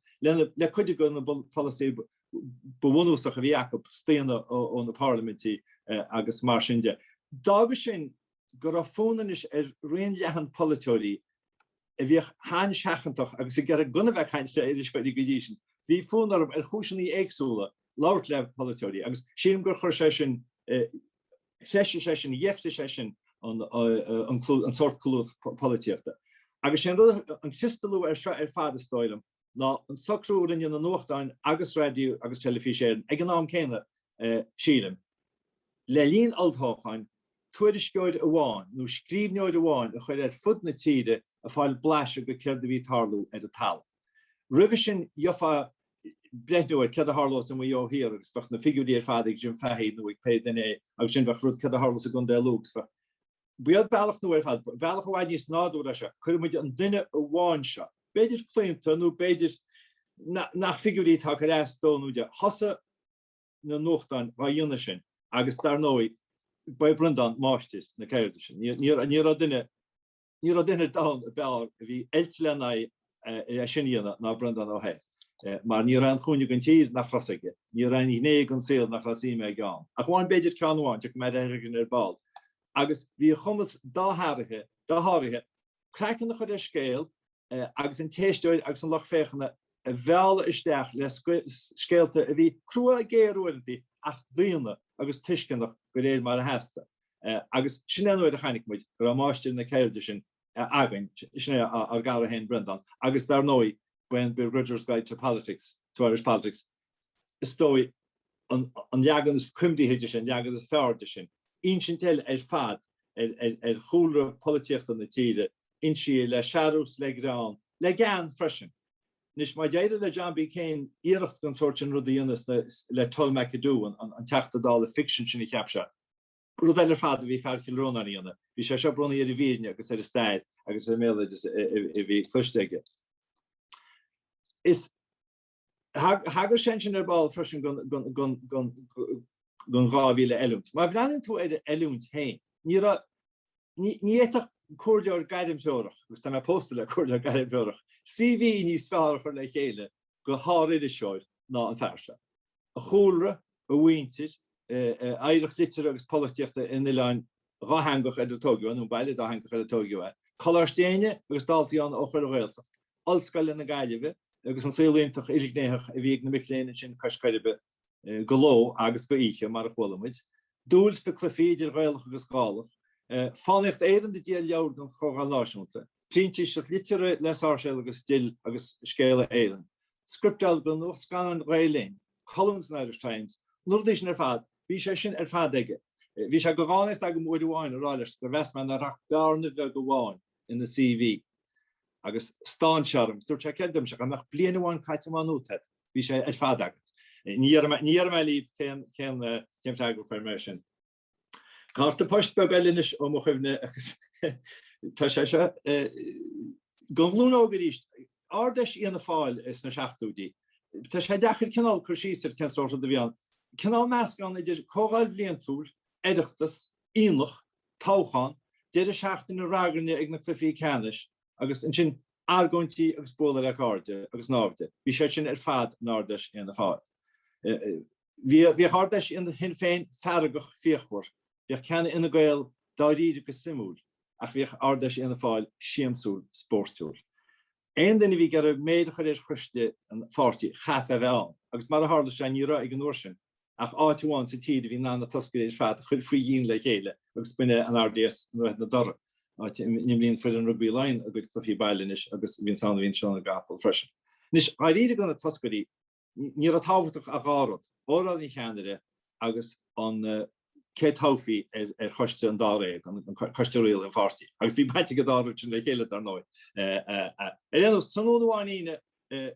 le cuid de na polasaithe ba bhunúsacha a bhí acu, staonadh ó na parlaimintí agus mar sin de. D'fhága sin go raibh fonn anois ar raon leathan polaiteoirí a bhíodh an-seachantach agus ag iarraidh gan a bheith ag caint le iriseoirí go dtí sin, bhí fonn orthu, ar chúiseanna éagsúla, labhairt le polaiteoirí agus sílim gur chuir sé sin, freisin sé sin, dheifrigh sé sin an sórt clúdach polaitíochta. Agus sé an rud an criostalú air seo ar fad, is dóigh liom, ná an socrú a rinne na nuachtáin agus Raidió agus Teilifís Éireann ag an am céanna, sílim, le linn olltoghcháin, tuairisceoir amháin nó scríbhneoir amháin a chur ar fud na tíre ag fáil blaiseadh de céard a bhí ag tarlú ar an talamh. Roimhe sin gheofá breithniú ar cad a tharlós i Maigh Eo Thiar agus bheadh na figiúirí ar fad ag Jim Fahey nó ag pé duine eile agus sin bheadh cad a tharlós i gContae Lú agus bheadh bhí an bealach nó ar fad bealach i bhfad níos nádúrtha ná seo. Cuirfidh muid an duine amháin seo, b'fhéidir claonta nó b'fhéidir nach figiúirí atá ag cur as dó nó di, thosaigh na nuachtáin dá dhéanamh sin agus dar ndóigh ba é Breandán máistir na ceirde sin. Ní raibh duine. Ní raibh duine ar domhan a b'fhearr a bhí oilte len é sin a dhéanamh ná Breandán Ó hEithir. Mar ní raibh aon chúinne den tír nach raibh a fhios aige, ní raibh aon ghné den saol nach raibh suim aige ann. Ach amháin b'fhéidir ceann amháin, tiocfaidh mé aige ar ball. Agus bhí a chumas dosháraithe, dosháraithe, craiceann a chur ar scéal agus an t-éisteoir agus an lucht féachana a mhealladh isteach le scéalta a bhí crua, géar uaireantaí ach daonna agus tuisceanach de réir mar a theastaigh. Agus sin é an uair a chonaic muid go raibh máistir na ceirde sin againn, sin é ár gcara féin Breandán, agus dar ndóigh ba é an Begrudger's Guide to Politics, to Irish Politics, is dóigh, an leagan is cuimsithí de sin, an leagan is fearr de sin, insint eile ar fad ar chúlra polaitíochta na tíre, insíodh le searús, le greann, le gean freisin. Anois, má d'éirigh le John B. Keane iarracht den sórt sin rud a dhéanamh le Tull MacAdoo, an Teachta Dála ficsin sin a cheap sé, Rud eile ar fad a bhí fear Chill Rónáin a dhéanamh, bhí sé seo bunaithe ar an bhfírinne agus ar an stair agus ar an mbéaloideas a bhí cloiste aige. Is thagair sé ansin ar ball freisin don dá mhíle oiliúint. Má bhreathnaíonn tú ar an oiliúint féin, ní raibh Ní fhéadfadh comhairleoir gairmthreorach, agus tá mé pósta le comhairleoir gairmthreorach, CV níos fearr a chur le chéile do shár-iriseoir ná an fear seo. A chúlra, a mhuintir, a oidhreacht liteartha agus polaitíochta in oileán dhátheangach ar ar tóigeadh é, nó baile dátheangach ar ar tóigeadh é. Coláiste Éinne agus daltaí ann ó chuile Ghaeltacht, Ollscoile na Gaillimhe agus an saol iontach ilghnéitheach a bhí ag na mic léinn ansin cois Coiribe. de ló agus d'oíche mar a chualaimid, dúil sna cluichí idir Ghaelach agus Gallda, fánaíocht Éireann ag díol leabhar don Chomhdháil Náisiúnta, printíseach liteartha le Sáirséal agus Dill agus Scéala Éireann, scripteáil do Nuacht Scannán Ghael Linn, colún san Irish Times, na rudaí sin ar fad, bhí sé sin ar fad aige. Bhí sé de dhánaíocht agam uair amháin a rá leis gur mheas mé nach raibh ach bearna bheag amháin ina CV agus stán sé orm, dúirt sé céard, murach bliain amháin caite ó thuaidh. Bhí sé ar fad agat. Ní dhéarfaidh mé libh cén freagra a fuair mé. Cárta poist beag eile anois ó mo chuimhne agus tá sé seo. Don ghlúin óg arís Ard-Fheis Fhianna Fáil sna seachtóidí. Tá sé deacair cineál cur síos ar cén sórt rud a bhí ann. Cineál meascán idir comhdháil bhliantúil, oireachtas, aonach, toghchán, deireadh seachtaine ragairne ag na cluichí ceannais, agus ansin argóintí agus bualadh le cairde agus naimhde, bhí sé sin ar fad in Ard Fheis Fhianna Fáil. Bhíodh Ard Fheis Shinn Féin feargach fíochmhar, bhíodh ceann Fhine Gael dáiríre go suimiúil ach bhíodh Ard Fheis Fhianna Fáil siamsúil spórtúil. Aon duine a bhí ag iarraidh méid a chur ar choiste an pháirtí chaithfeá a bheith ann agus mar a tharla sé ní raibh ag an uair sin ach áit amháin sa tír a bhí in ann na toscairí ar fad a chur faoi dhíon le chéile agus b'in é an RDS i nDroichead na Dothra, áit a n-imríonn foireann rugbaí Laighean a gcuid cluichí baile anois agus a bhíonn ann a bhíonn Seó na gCapall freisin. Anois, dháiríre do na toscairí, ní raibh tábhachtach ach dhá rud, óráid an cheannaire agus an cé a toghfaí ar choiste an dáréag, an coiste rialaithe an pháirtí. Agus bhí baint ag an dá rud sin le chéile, dar ndóigh. Ar aon nós, tráthnóna amháin Aoine,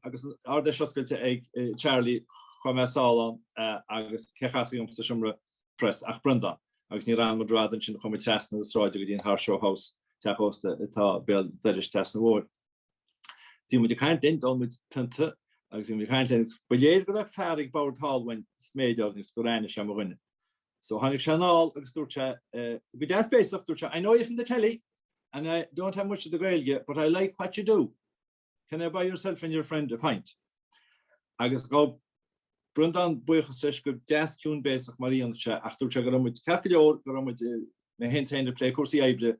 agus an Ard-Fheis oscailte ag Charlie chuaigh mé sall ann agus cé chasfaí dhom sa seomra pres ach Breandán agus ní raibh muid rófhada ansin, chuaigh muid trasna na sráide go dtí an Horse Show House, teach ósta atá béal dorais trasna an bhóthair. Bhí muid ag caint linn, d'ól muid pionta agus bhí muid ag caint linn agus ba léir go raibh fear ag bord thall uainn ag sméideadh orainn agus gur aithin sé mo dhuine. So tháinig sé anall agus dúirt sé, go deas béasach, dúirt sé, I know you from the telly and I don't have much of the Gaeilge but I like what you do. Can I buy yourself and your friend a pint? Agus ghabh Breandán buíochas leis go deas ciúin béasach mar a dhéanfadh sé ach dúirt sé go raibh muid ceart go leor, go raibh muid ina hintinn ag plé cúrsaí oibre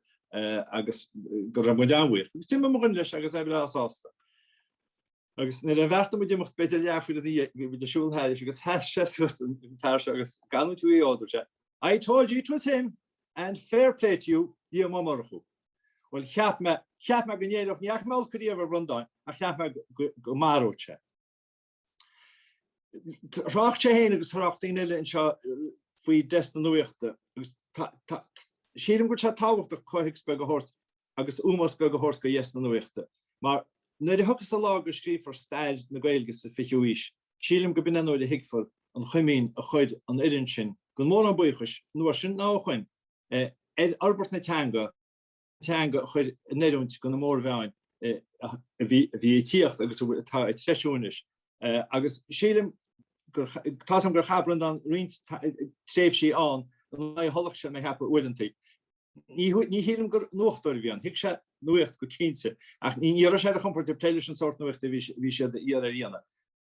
agus go raibh muid an-bhuíoch. Agus d'imigh mo dhuine leis agus é breá sásta. Agus nuair a bheartaigh muid imeacht b'fhéidir leathuair ina dhiaidh, bhí muid ag siúl thairis agus sheas sé suas an fear seo agus don triúr ag a bhord dúirt sé, I told you it was him and fair play to you, Liam Ó Murchú. Bhuel cheap mé, cheap mé go n-éireodh, ní fhaca mé olc ariamh ar Bhreandán ach cheap mé go maródh sé é. Thrácht sé fhéin agus thrácht daoine eile anseo faoi dheasc na nuachta agus sílim go bhfuil sé tábhachtach comhthéacs beag a thabhairt agus ómós beag a thabhairt do dheasc na nuachta mar nuair a thiocfas an lá go scríobhfar stair na Gaeilge sa 20ú aois, sílim go b'in an uair a thuigfear an chomaoin a chuir an fhoireann sin gan mórán buíochais an uair sin ná ó shoin ar fhorbairt na teanga, teanga a chur in oiriúint do na mórmheáin a bhí ag tíocht agus atá ag treisiú anois. Agus sílim gur, tá 's agam gur chaith Breandán roinnt tréimhsí ann in aghaidh a tholach, sé mo cheapadh uaireantaí. Ní shílim gur nuachtóir a bhí ann, thuig sé nuaíocht go cinnte, ach ní raibh sé ar a chompord ag plé leis an sórt nuachta a bhí siad ag iarraidh a dhéanamh.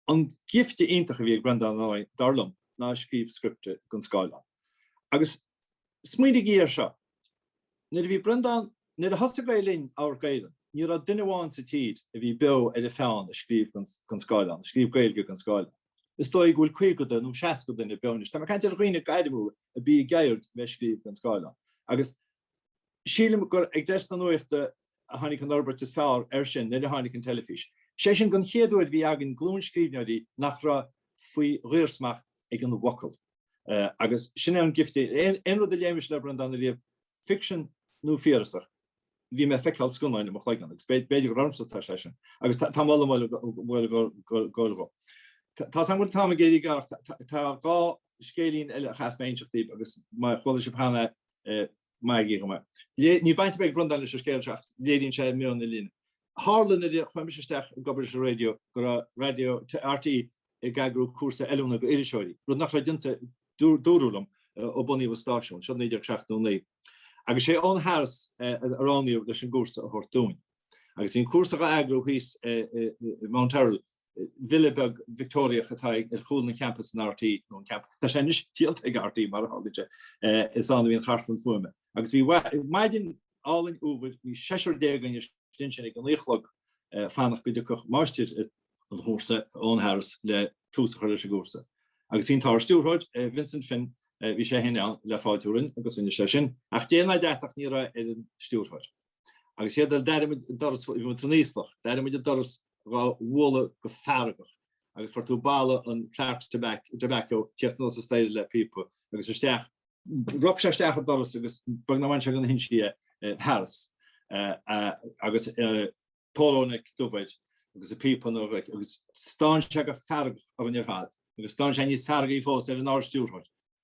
An gifte iontach a bhí ag Breandán ó, dar liom, ná scríobh scripte don scáileán. Agus smaoinigí air seo, nuair a bhí Breandán, nuair a thosaigh Gael Linn, Amharc Éireann, ní raibh duine amháin sa tír a bhí beo ar a pheann ag scríobh don scáileán, ag scríobh Gaeilge don scáileán. Is dóigh go bhfuil 50 nó 60 duine beo anois. Tá mé ag caint ar dhaoine gairmiúla arb í a gceird a bheith ag scríobh don scáileán. Agus. Sílim gur ag deisc na nuachta a tháinig an fhorbairt is fearr air sin nuair a tháinig an teilifís. Sé sin den chéad uair bhí againn glúin scríbhneoirí nach raibh faoi dhaorsmacht ag an bhfocal. Agus sin é an gift é. Aon rud a léimis le Breandán ariamh, ficsean nó fíorasach, bhí mé ag feiceáil scannáin i mo chloigeann agus b'fhéidir gur ormsa atá sé sin. Agus tá mé á lua mar mholadh dhó. Tá's agam go bhfuil an t-am ag éirí gearr ach tá dhá scéilín eile a chaithfeas mé a inseacht daoibh agus má chuala sibh cheana iad, maithigí dhom é. Níl baint ar bith ag Breandán leis an scéal seo ach léiríonn sé meon na linne. Tharla nuair a chuaigh mise isteach ag obair ar an raidió go raibh Raidió RTÉ ag eagrú cúrsa oiliúna d'iriseoirí, rud nach raibh déanta, dúradh liom, ó bunaíodh an stáisiún, seo 1979. Agus sé Eoghan Harris a roghnaíodh leis an gcúrsa a thabhairt dúinn. Agus bhí an cúrsa dhá eagrú thíos i Mount Errol villa beag Victeoiriach atá ar chúl an champais in RTÉ, nó an camp, tá sé anois díolta ag RTÉ mar a tharlaíonn sé, is ann a bhí an chartlann fuaime. Agus bhí maidin álainn fhómhair, bhí seisear déag againn ansin ag a naoi a chlog ag fanacht go dtiocfadh máistir an chúrsa Eoghan Harris le tús a chur leis an gcúrsa. Agus bhí an tArd-Stiúrthóir, Vincent Finn, bhí sé féin ann le fáiltiú romhainn agus rinne sé sin, ach dé ná deatach ní raibh ar an Stiúrthóir. Agus an chéad rud eile, d'airigh muid an doras, bhí muid san íoslach, d'airigh muid an doras dhá bhualadh go feargach agus fuair tú boladh an Clark's Tobacco ag tíocht anuas an staighre le píopa, agus isteach. Rop sé isteach an doras agus beag nár bhain sé de na hinsí é, Harris agus a pholo neck dubh air agus a phíopa ina ghlaic agus stán sé go feargach orainn ar fad agus stán sé níos feargaí fós ar an Ard-Stiúrthóir.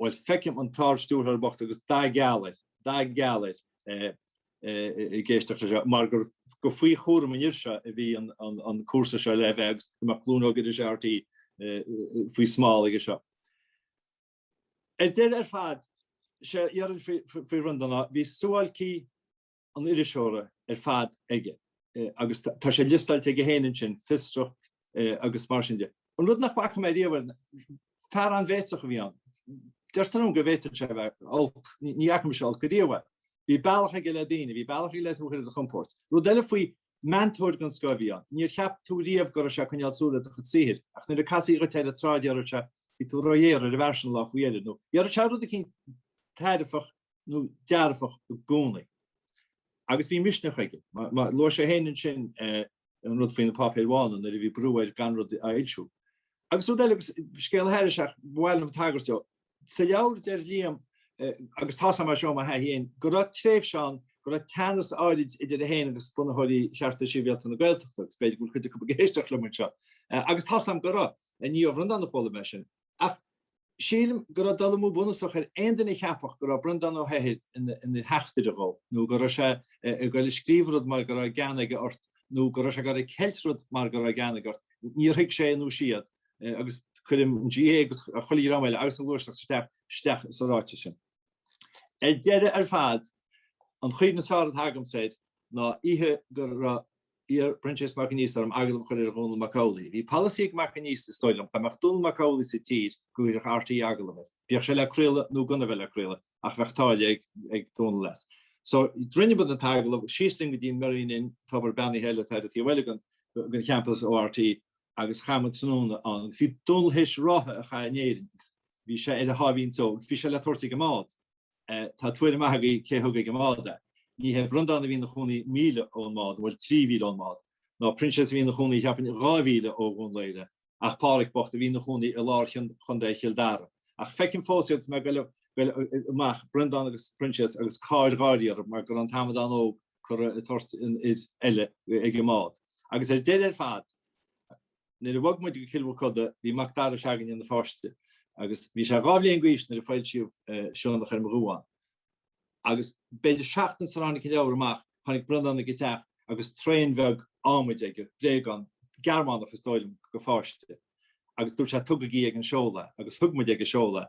Bhuel, feicim an tArd-Stiúrthóir bocht agus dath geal air, dath geal air, ag éisteacht leis seo, mar gur faoi chúram an fhir seo a bhí an cúrsa seo le bheith agus go mbeadh glúin óg iriseoirí RTÉ faoi smál aige seo. Ar deireadh ar fad, 'sé a déarfainn faoi Bhreandán ná, bhí suáilcí, an iriseora ar fad aige agus tá sé liostáilte aige féin ansin, fiosracht agus mar sin de. An rud nach bhfaca mé riamh, fear an-bhéasach a bhí ann. Deirtear liom go bhféadfadh sé a bheith olc, ní fhaca mise olc ariamh air. Bhí bealach aige le daoine, bhí bealach aige le tú a chur ar do chompord. Rud eile faoi, meantóir den scoth a bhí ann. Níor cheap tú riamh go raibh sé ag coinneáil súil ar do chuid saothair, ach nuair a casadh dhuit é ar an tsráid déarfadh sé bhí tú róghéar ar an bhfear sin an lá faoi dheireadh, nó déarfadh sé rud eicínt taitneamhach nó dearfach i gcónaí. Agus bhí misneach aige. Mar a luaigh sé féin ansin an rud faoi na páipéir bhána nuair a bhí brú air gan rud a fhoilsiú. Agus rud eile, scéal thairis ach ba mhaith liom tagairt dó. Sa leabhar deir Liam, agus tá's agam é seo ó mo thaithí féin, go raibh tréimhse ann go raibh teannas áirid idir é féin agus bunaitheoirí Chearta Sibhialta na Gaeltachta agus b'fhéidir go bhfuil cuid acu ag éisteacht liom anseo agus tá's agam go raibh. Ní ó Bhreandán a chuala mé sin. Ach sílim go raibh dul amú bunúsach ar aon duine a cheapfadh go raibh Breandán Ó hEithir ina theachtaire dhó, nó go raibh sé ag goil ag scríobh rud mar go raibh gean aige ort, nó go raibh sé ag goil ag ceilt rud mar go raibh gean aige ort. Níor thuig sé nó siad, agus cuirim an GAA agus chuile dhream eile agus an ghluaiseacht isteach sa ráiteas sin. Ar deireadh ar fad, an chuimhne is fearr atá agamsa air ná oíche gur iarr Proinsias Mac Aonghusa orm agallamh a chur ar Dhónall Mac Amhlaigh. Bhí polasaí ag Mac Aonghusa, is dóigh liom, dá mbeadh Dónall Mac Amhlaigh sa tír, go gcuirfeadh RTÉ agallamh air. Bíodh sé le craoladh nó gan a bheith le craoladh, ach bheadh táille ag Dónall as. So, rinne muid an t-agallamh, síos linn go dtí an Merrion Inn, tobar beannaithe eile atá ar an taobh eile den champas ó RTÉ, agus chaith muid tráthnóna ann. Bhí Dónall théis ráithe a chaitheamh in Éirinn agus bhí sé ar a sháimhín só, agus bhí sé le tabhairt ag an mbád. Tá tuairim maith agaibh cé thug ag an mbád é. Ní hé Breandán a bhí ina chónaí míle ón mbád, bhuel trí mhíle ón mbád, ná Proinsias a bhí ina chónaí cheapfainn dhá mhíle ó Dhún Laoghaire, ach Pádhraic bocht a bhí ina chónaí i lár Chontae Chill Dara. Ach feicim fós iad is mé ag goil amach, Breandán agus Proinsias agus cáir gháirí orthu mar go raibh an t-amadán óg curtha ag tabhairt an fhir eile ag an mbád. Agus ar deireadh ar fad, Nuair a bhog muid go Cill Mhochuda bhí Macdara se'againne ina pháiste agus bhí sé dhá bhliain d'aois nuair a foilsíodh Sionnach ar mo Dhuán. Agus b'fhéidir seachtain sara tháinig an leabhar amach tháinig Breandán ag an teach agus traein bheag ádhmaid aige, bréagán, Gearmánach is dóigh liom, go pháiste agus dúirt sé 'tugaigí ag an seoladh é' agus thug muid ag an seoladh é.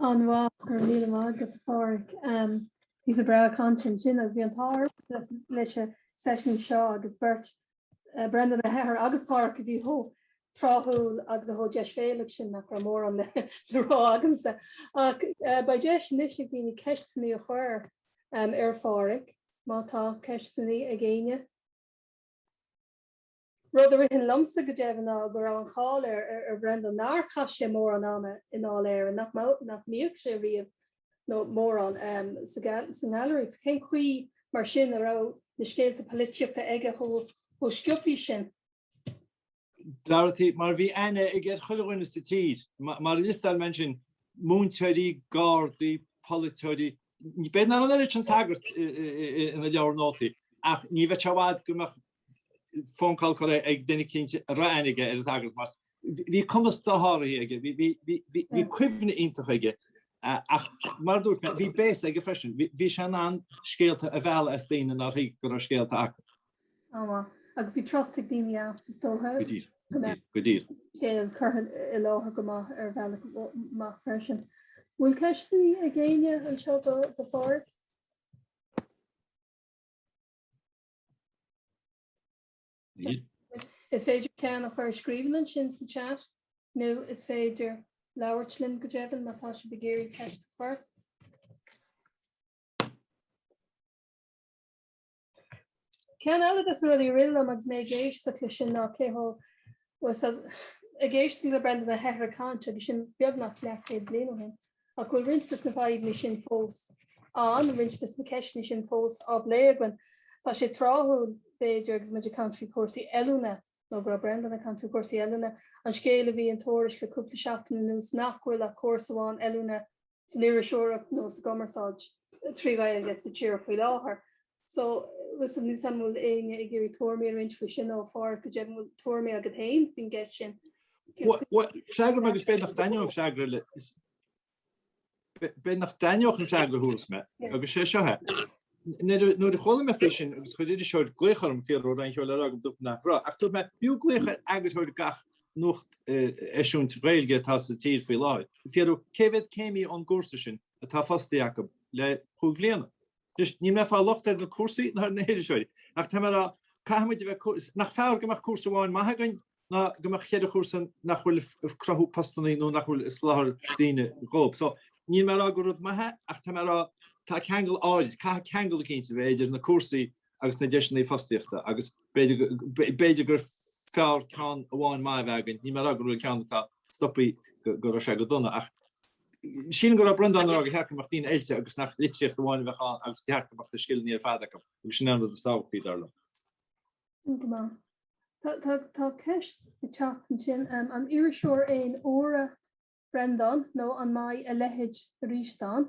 An-mhaith, go raibh míle maith agat a Pháraic. Píosa breá cainte ansin agus bhí an t-ádh leis an seisiún seo agus beirt Breandán Ó hEithir agus Páraic a bhí chomh tráthúil agus chomh deisbhéalach sin nach raibh mórán le rá agamsa. Ach beidh deis anois ag daoine ceisteanna a chur ar Pháraic má tá ceisteanna ag éinne. Rud a ritheann liomsa go deimhin ná go raibh an cháil ar Bhreandán nár chaith sé mórán ama i nDáil Éireann, nach mbíodh sé riamh nó mórán sa nGailearaí. Cén chaoi mar sin a raibh na scéalta poilitíochta aige chomh scioptha sin? Go háirithe mar bhí aithne aige ar chuile dhuine sa tír. Mar a liostáil mé ansin, múinteoirí, gardaí, polaiteoirí, b'fhéidir nach an oiread sin sagart ina leabhar nótaí ach ní bheadh sé i bhfad go mbeadh phone call chuig duine eicínt a raibh aithne aige air, tá a fhios agat mas. Bhí cumas dosháraithe aige, bhí cuimhne iontach aige. ach mar dúirt mé bhí béas aige freisin, bhí sé in ann scéalta a mhealladh as daoine nár thuig go raibh scéalta acu. Ámá. Agus bhí trust ag daoine as is dócha. Go díreach. Go díreach. Scéal curtha i láthair go maith ar bhealach maith freisin. Bhfuil ceisteanna ag éinne anseo do Pháraic? Is féidir ceann a chur i scríbhinn ansin sa chat nó is féidir labhairt linn go deimhin má tá sibh ag iarraidh ceist a chur. Ceann eile des na rudaí a rith liom agus mé ag éisteacht leis sin ná cé go rabhas ag éisteacht le Breandán Ó hEithir ag caint agus sin beagnach leathchéad bliain ó shin. Ach bhfuil roinnt dos na fadhbanna sin fós ann, roinnt dos na ceisteanna sin fós á bplé againn. Tá sé tráthúil b'fhéidir agus muid ag caint faoi chúrsaí oiliúna nó go raibh Breandán ag caint faoi chúrsaí oiliúna, an scéal a bhí in Tuairisc le cúpla seachtain anuas nach bhfuil ach cúrsa amháin oiliúna san iriseoireacht nó sa gcumarsáid trí Ghaeilge sa tír faoi láthair. So, listen, níl a fhios agam an bhfuil éinne ag iarraidh tuairmí a roinnt faoi sin nó a Pháraic go deimhin bhfuil tuairmí agat féin faoin gceist sin. Freagra agam agus b'fhéidir nach dtaitneoidh an freagra le b'fhéidir nach dtaitneoidh an freagra a thabharfas mé agus sé seo é. Nuair a chuala mé faoi sin agus chuir iriseoir glaoch orm ag fiafraí an raibh aon cheo le rá agam dúirt mé nach raibh ach dúirt mé b'fhiú glaoch ar eagarthóir gach nuacht eisiúint Ghaeilge atá sa tír faoi láthair. Fiafraí cé mhéad céimí ón gcúrsa sin atá fostaí acu le chúig bhliana. Anois, níl mé ag fáil locht ar na cúrsaí ná ar na hiriseoirí, ach tá mé ag rá, caithfidh muid a bheith, nach fearr go mbeadh cúrsa amháin maith againn ná go mbeadh cheithre chúrsa nach bhfuil ag cruthú postannaí nó nach bhfuil ag soláthar daoine dhóibh. So, níl mé ag rá gur rud maith é, ach tá mé ag rá, tá ceangal áirid, caithfidh ceangal eicínt a bheith idir na cúrsaí agus na deiseannaí fostaíochta agus b'fhéidir gur fearr ceann amháin maith a bheith againn, níl mé ag rá go bhfuil an ceann atá stoptha go raibh sé go dona ach, Sílim go raibh Breandán ag rá gur cheart go mbeadh daoine oilte agus nach litríocht amháin a bheadh ann agus gur cheart go mbeadh na scileanna ar fad acu agus sin é an rud is tábhachtaí, dar liom. Go maith. Tá ceist ag teacht ansin, an iriseoir aon uaire Breandán nó an mbeidh a leithéid arís ann?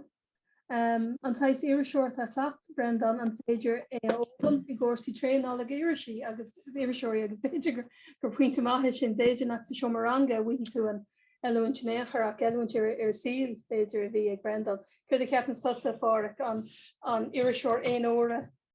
An saghas iriseoireachta a chleacht Breandán, an féidir é a fhoghlaim i gcúrsaí traenála do irisí agus iriseoirí agus b'fhéidir gur pointe maith é sin, b'fhéidir nach sa seomra ranga a bhfaighidh tú an oiliúint in aon chor ach oiliúint an tsaoil b'fhéidir a bhí ag Breandán. Céard a cheapann tusa, Pháraic, an iriseoir aon uaire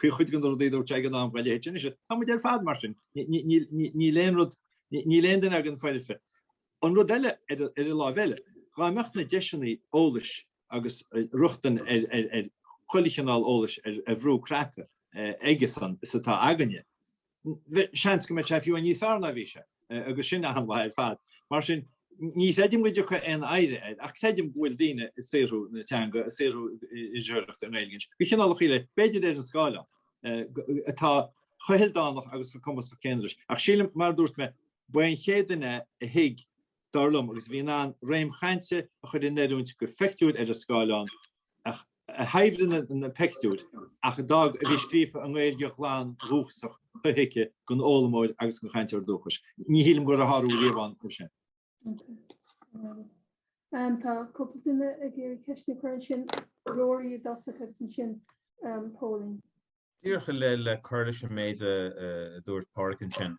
faoi chuid de na rudaí a dúirt sé ag an am Gaeilge Thit sin is ea. Tá muid ar fad mar sin. Níl aon rud, níl aon duine againn foirfe. An rud eile, ar an láimh eile, dhá mbeadh na deiseanna eolais agus rochtain ar chuile chineál eolais ar bhrú cnaipe aigesean is atá againne, Bheadh seans go mbeadh sé fiú níos fearr ná bhí sé, agus sin an-mhaith ar fad. Mar sin, ní chreidim go dtiocfaidh aon oidhre air, ach creidim go bhfuil daoine ag saothrú na teanga, ag saothrú iriseoireachta i nGaeilge, de chineálacha eile, b'fhéidir ar an scáileán, atá chomh hildánach agus chomh cumasach céanna leis. Ach sílim, mar a dúirt mé, ba é an chéad duine a thuig dar liom, agus a bhí in ann réim chainte a chur in oiriúint do phictiúir ar an scáileán, a shaibhrigh na pictiúir ach a d'fhág a bhí scríofa i nGaeilge ghlan dhúchasach shothuigthe don fhoghlaimeoir agus don chainteoir dúchais. Ní shílim go raibh a shárú riamh ann mar sin. Tá cúpla duine ag iarraidh ceist a chur ansin Rory agus ansin Pauline. Díreach le cur leis an méid a dúirt Pádhraic ansin,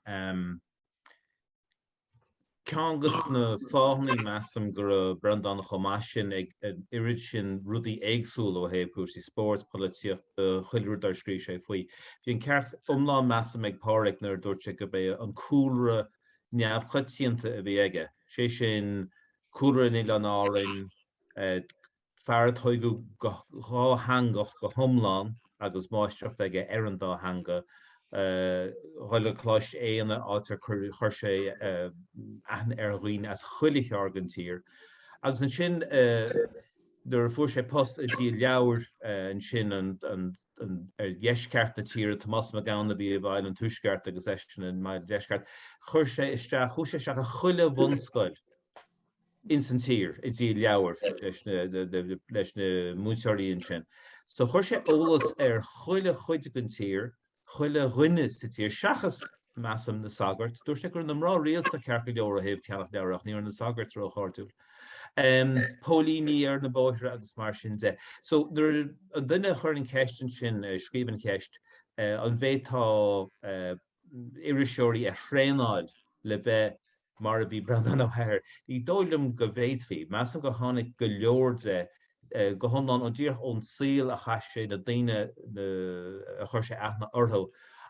ceann de na fáthanna, measaim, go raibh Breandán chomh maith sin ag an oiread sin rudaí éagsúla ó thaobh cúrsaí spóirt, polaitíochta, chuile rud ar scríobh sé faoi. Bhí an ceart iomlán, measaim, ag Pádhraic nuair a dúirt sé gurb é an cúlra neamhchoitianta a bhí aige, sé sin, cúlra in Oileáin Árann, Fear a tóigeadh go dátheangach go hiomlán agus máistreacht aige ar an dá theanga. Dhul go Coláiste Éanna, áit ar chuir sé aithne ar dhaoine as chuile cheárd den tír. Agus ansin nuair a fuair sé post ag díol leabhar ansin ar dheisceart na tíre, Tomás Mac Gabhann a bhí i bhfeighil an tuaisceart agus eisean i mbun an deisceart, chuir sé isteach, chuaigh sé isteach i chuile bhunscoil. ins an tír ag díol leabhar leis na múinteoirí ansin. So chuir sé eolas ar chuile chuid den tír, chuile dhuine sa tír seachas measaim na sagairt. Dúirt sé go raibh na mná rialta ceart go leor ó thaobh ceannacht leabhar ach ní raibh na sagairt róchairdiúil. Póilíní ar na bóithre agus mar sin de. So nuair an duine a chuir an ceist ansin, a scríobh an cheist, an bhféadfá iriseoirí a thraenáil le bheith mar a bhí Breandán Ó hEithir, ní dóigh liom go bhféadfaí. Measaim gur tháinig go leor de go hiomlán ó díreach ón saol a chaith sé, na daoine a chuir sé aithne orthu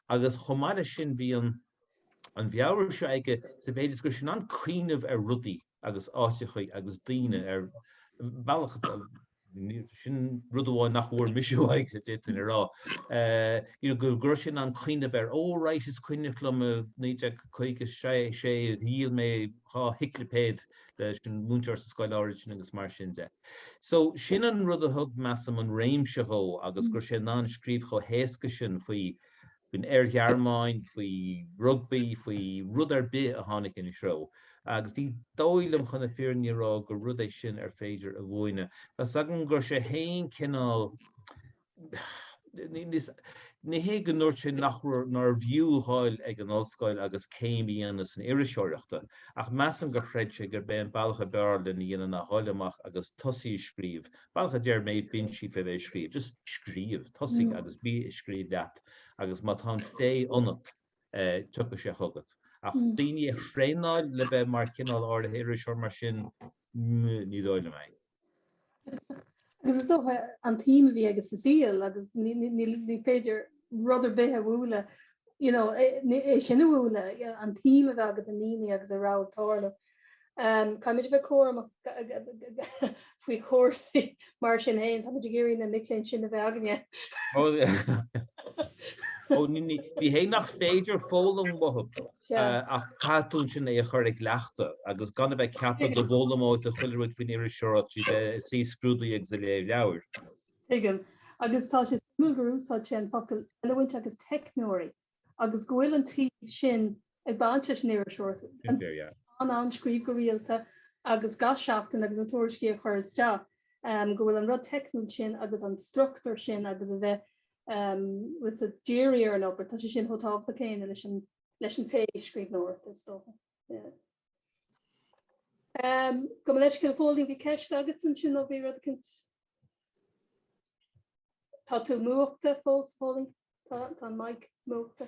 agus chomh maith leis sin bhí an an mheabhair seo aige sa mhéid is go sin an cuimhneamh ar rudaí agus áiteachaí agus daoine ar bhealach Sin rud amháin nach bhfuair mise uaidh, a d'fhéadfainn a rá. You know, go raibh sé in ann cuimhneamh air. Oh right, is cuimhneach liom i 1956 a dhíol mé dhá shiclipéad leis an múinteoir sa scoil áirid sin agus mar sin de. So sin an rud a thug, measaim, an réimse dhó agus go raibh sé in ann scríobh chomh héasca sin faoi faoin Oir-Ghearmáin, faoi rugbaí, faoi rud ar bith a tháinig ina threo. Agus ní dóigh liom, chun na fírinne a rá, gur rud é sin ar féidir a mhúineadh. Tá 's agam go raibh sé fhéin cineál, ní hé go ndúirt sé nach raibh, nárbh fhiú a dhul ag an ollscoil agus céim a dhéanamh san iriseoireacht, ach measaim gur chreid sé gurb é an bealach a b'fhearr lena dhéanamh ná dhul amach agus tosaí ag scríobh Bealach a deir Maeve Binchy faoi bheith ag scríobh. Just scríobh, tosaigh agus bí ag scríobh leat agus má tá an féith ionat tiocfaidh sé chugat. Ach daoine a thraenáil le bheith mar chineál áirithe iriseoir mar sin, ní dóigh liom é. Agus is dócha an tsuim a bhí aige sa saol agus ní féidir rud ar bith a bhualadh, you know, é sin a bhualadh, an tsuim a bheith agat i ndaoine agus a raibh ag tarlú. Caithfidh muid a bheith cúramach faoi chúrsaí mar sin féin. Tá muid ag iarraidh na mic léinn sin a bheith againne. Ó, ní hé nach féidir foghlaim uathu, ach caithfidh tú ansin é a chur i gcleachtadh agus gan a bheith ag ceapadh go bhfoghlaimeoidh tú chuile rud faoin iriseoireacht tríd a bheith ag suí scrúduithe agus ag léamh leabhar. Tuigim. Agus tá sé suimiúil gur úsáid sé an focal 'ealaín' agus 'teicneoirí' agus go bhfuil an taobh sin Ag baint leis an iriseoireacht. Sin fíor, yeah. In ann scríobh go rialta agus gach seachtain agus na tuairiscí a chur isteach, go bhfuil an rud teicniúil sin agus an struchtúr sin agus a bheith ábalta díriú ar an obair, tá sé sin chomh tábhachtach céanna leis an leis an féith scríbhneoireachta is dócha. Yeah. Um, gabh mo leithscéal, a Phóilín, bhí ceist agatsa ansin ó bhí rud eicínt. Tá tú múchta fós, a Phóilín? Tá an mic múchta.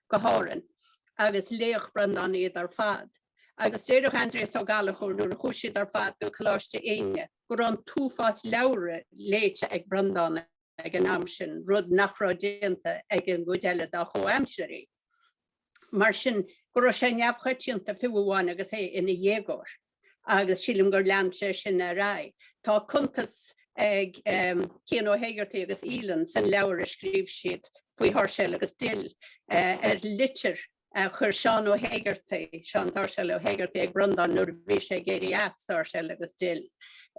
go hÁrainn agus léadh Breandán iad ar fad. Agus deireadh Aindreas Ó Gallchóir nuair a chuaigh siad ar fad go Coláiste Éinde go raibh an t-uafás leabhra léite ag Breandán ag an am sin, rud nach raibh déanta ag an gcuid eile dá chomhaimsirigh. Mar sin go raibh sé neamhchoitianta fiú amháin agus é ina dhéagóir. agus sílim gur lean sé sin ar aghaidh. Tá cuntas ag Cian Ó hÉigeartaigh agus Aoileann san leabhar a scríobh siad faoi Sháirséal agus Dill ar litir a chuir Seán Ó hÉigeartaigh, Seán Sáirséal Ó hÉigeartaigh, ag Breandán nuair a bhí sé ag éirí as Sháirséal agus Dill,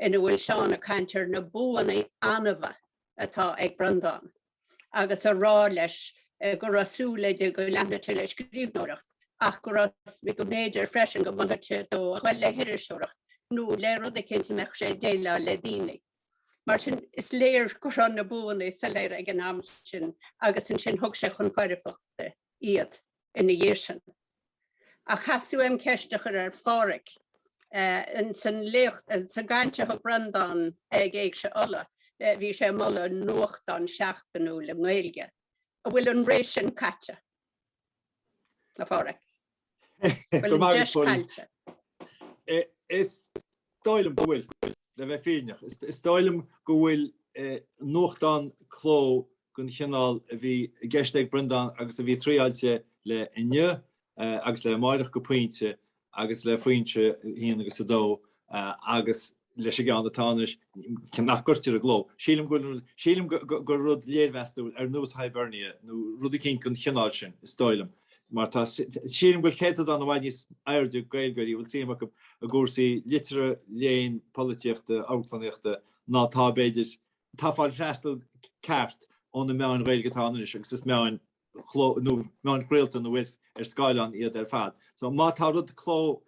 ina bhfuil Seán ag caint ar na buanna annamha. atá ag Breandán agus a rá leis go raibh súil aige go leanfadh sé le scríbhneoireacht ach go raibh go mb'fhéidir freisin go molfadh sé dó a dhul le hiriseoireacht nó le rud eicínt a mbeadh sé ag déileáil le daoine. Mar sin, is léir go raibh na buanna soiléir ag an am sin agus ansin thug sé chun foirfeachta iad. ina dhiaidh sin. Ach theastaigh uaim ceist a chur ar Phádhraic. Ins an léacht, sa gcaint a thug Breandán ag Éigse Uladh, bhí sé ag moladh nuachtán seachtainiúil i nGaeilge. An bhfuil an ré sin caite, a Phádhraic? An bhfuil an deis caillte? Is dóigh liom go bhfuil, le bheith fírinneach. Is dóigh liom go bhfuil nuachtán cló den chineál a bhí i gceist ag Breandán agus a bhí triailte le Inniu agus le Amárach go pointe agus le Foinse a haon agus a dó agus leis an gceann atá anois nach gcuirtear i gcló. Sílim go sílim gur rud léirmheastúil ar nós Hibernia nó rud eicínt den chineál sin, is dóigh liom, mar tá sílim go bhfuil céatadán i bhfad níos airde Gaeilgeoirí a bhfuil suim acu i gcúrsaí liteartha, léinn, polaitíochta, amharclannaíochta ná tá b'fhéidir atá ag fáil freastal ceart ó na meáin Ghaeilge atá ann anois agus is meáin chló nó meáin chraolta nó bhuel ar scáileán iad ar fad. So má tá rud cló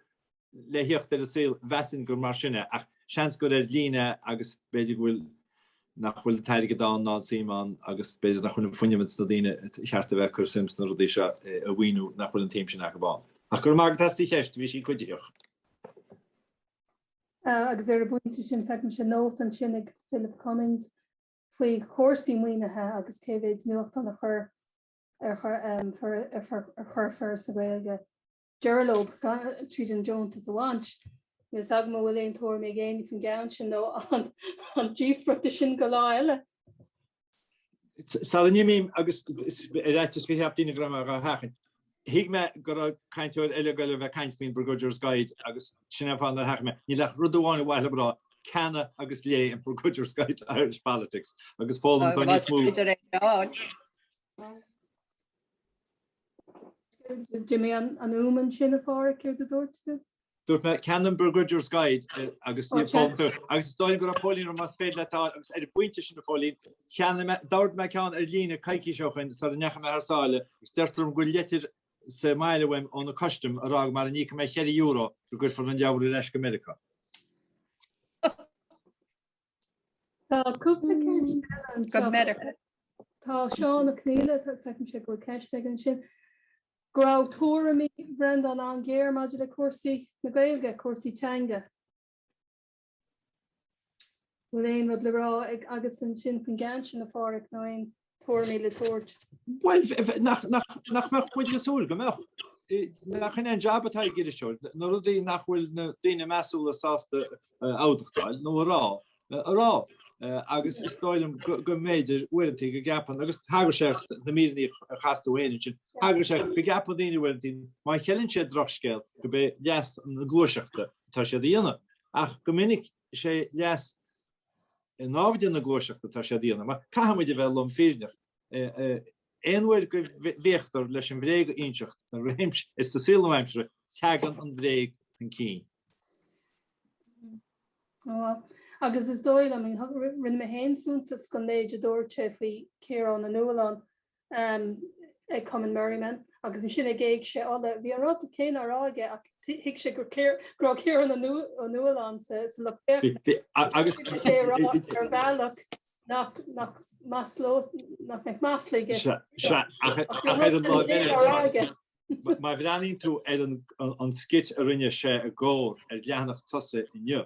le thíocht ar an saol mheasfainn gur mar sin é ach seans gur ar líne agus b'fhéidir go bhfuil nach bhfuil an t-airgead ann ná an suim ann agus b'fhéidir nach bhfuil an fuinneamh sna daoine ba cheart a bheith ag cur suim sna rudaí seo a mhaoiniú nach bhfuil an tsuim sin acu ann. Ach go raibh maith agat as do cheist, bhí sí cuiditheach. agus ar an bpointe sin feicimse nóta ansin ag Philip Cummings faoi chúrsaí maoinithe agus cé mhéid nuachtán a chuir ar chuir Foras na Gaeilge deireadh leo tríd an deontas a bhaint. Níl 's agam an bhfuil aon tuairim ag éinne faoin gceann sin nó an díospóireacht é sin go lá eile. Sula n-imím agus ar fhaitíos go gceapfadh daoine go raibh mé dhá sheachaint. Thuig mé go raibh cainteoir eile ag goil a bheith ag caint faoin Begrudger's Guide agus sin an fáth ar sheachain mé é. Níl ach rud amháin ba mhaith liom a rá, ceannaigh agus léigh an Begrudger's Guide to Irish Politics agus foghlaimeoidh tú níos mó. B'fhéidir é a fháil. D'imigh an fhuaim ansin, a Pháraic, céard a dúirt tú? Dúirt mé ceannaigh an Begrudger's Guide agus foghlaimeoidh tú agus is dóigh liom go raibh Póilín ag rá más féidir leat é a fháil agus ar an bpointe sin a Phóilín cheannaigh mé, d'ordaigh mé ceann ar líne coicís ó shin sara ndeachaigh mé thar sáile agus deirtear liom go bhfuil leitir sa mbaile agam ó na custaim ag rá go mara n-íocfaidh mé cheithre euro go gcuirfear an leabhar ar ais go Meiriceá. Tá cúpla ceist eile anseo. Tá Seán Ó Conghaile tá feicimse go bhfuil ceist aige ansin. Go raibh tuairimí Bhreandáin an-ghéar maidir le cúrsaí na Gaeilge, cúrsaí teanga. Bhfuil aon rud le rá agatsa ansin faoin gceann sin, a Pháraic, nó aon Tuairimí le tabhairt. Bhuel, nach mbeadh muid ag súil go mbeadh? nach sin an jab atá ag iriseoir, na rudaí nach bhfuil na daoine measúla sásta a admhachtáil nó a rá, a rá. agus is dóigh liom go mb'fhéidir uaireanta go gceapann, agus thagair sé sna míreanna a chas tú féin ansin, thagair sé go gceapann daoine uaireanta má cheileann siad drochscéal gurb é leas na gluaiseachta atá siad a dhéanamh. Ach go minic, is é leas naimhde na gluaiseachta atá sé a dhéanamh, mar caithfimid a bheith lom fírinneach, aon uair go bhféachtar leis an bhréag a inseacht in aon réimse sa saol le haimsir, teagann an bhréag chun cinn. Agus is dóigh liom, rinne mé féin suntas den méid a dúirt sé faoi Chiarán Ó Nualláin, ag Cumann Merriman agus ansin ag Éigse Uladh. Bhí an rud céanna á rá aige ach thuig sé go raibh Ciarán Ó Nualláin ann sa lucht féachana agus bhí sé ag rá ar bhealach nach mbeadh masla aige. Ach ar an láimh eile, má bhreathnaíonn tú ar an scit a rinne sé i gComhar ar leathanach tosaigh Inniu,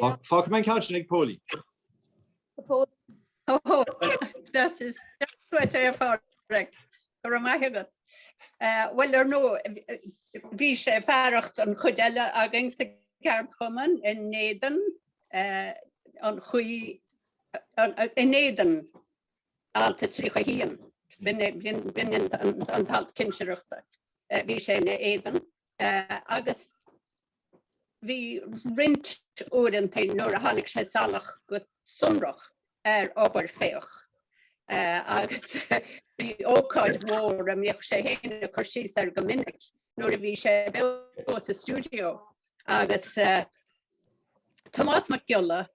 Fágfaidh mé an ceann sin ag Póilín. Oh, that is quite a far correct. Go raibh maith agat. Uh, bhuel ar ndóigh bhí sé fearacht an chuid eile againn sa gceardchumann in éadan uh, an chaoi in éadan Alt a tríocha haon b'in an t-alt cinsireachta. Bhí sé ina éadan agus bhí roinnt uaireanta nuair a tháinig sé salach go sonrach ar obair Féach agus bhí ócáid mhór a mbíodh sé féin ag cur síos air go minic nuair a bhí sé beo sa stiúideo agus Tomás Mac Giolla,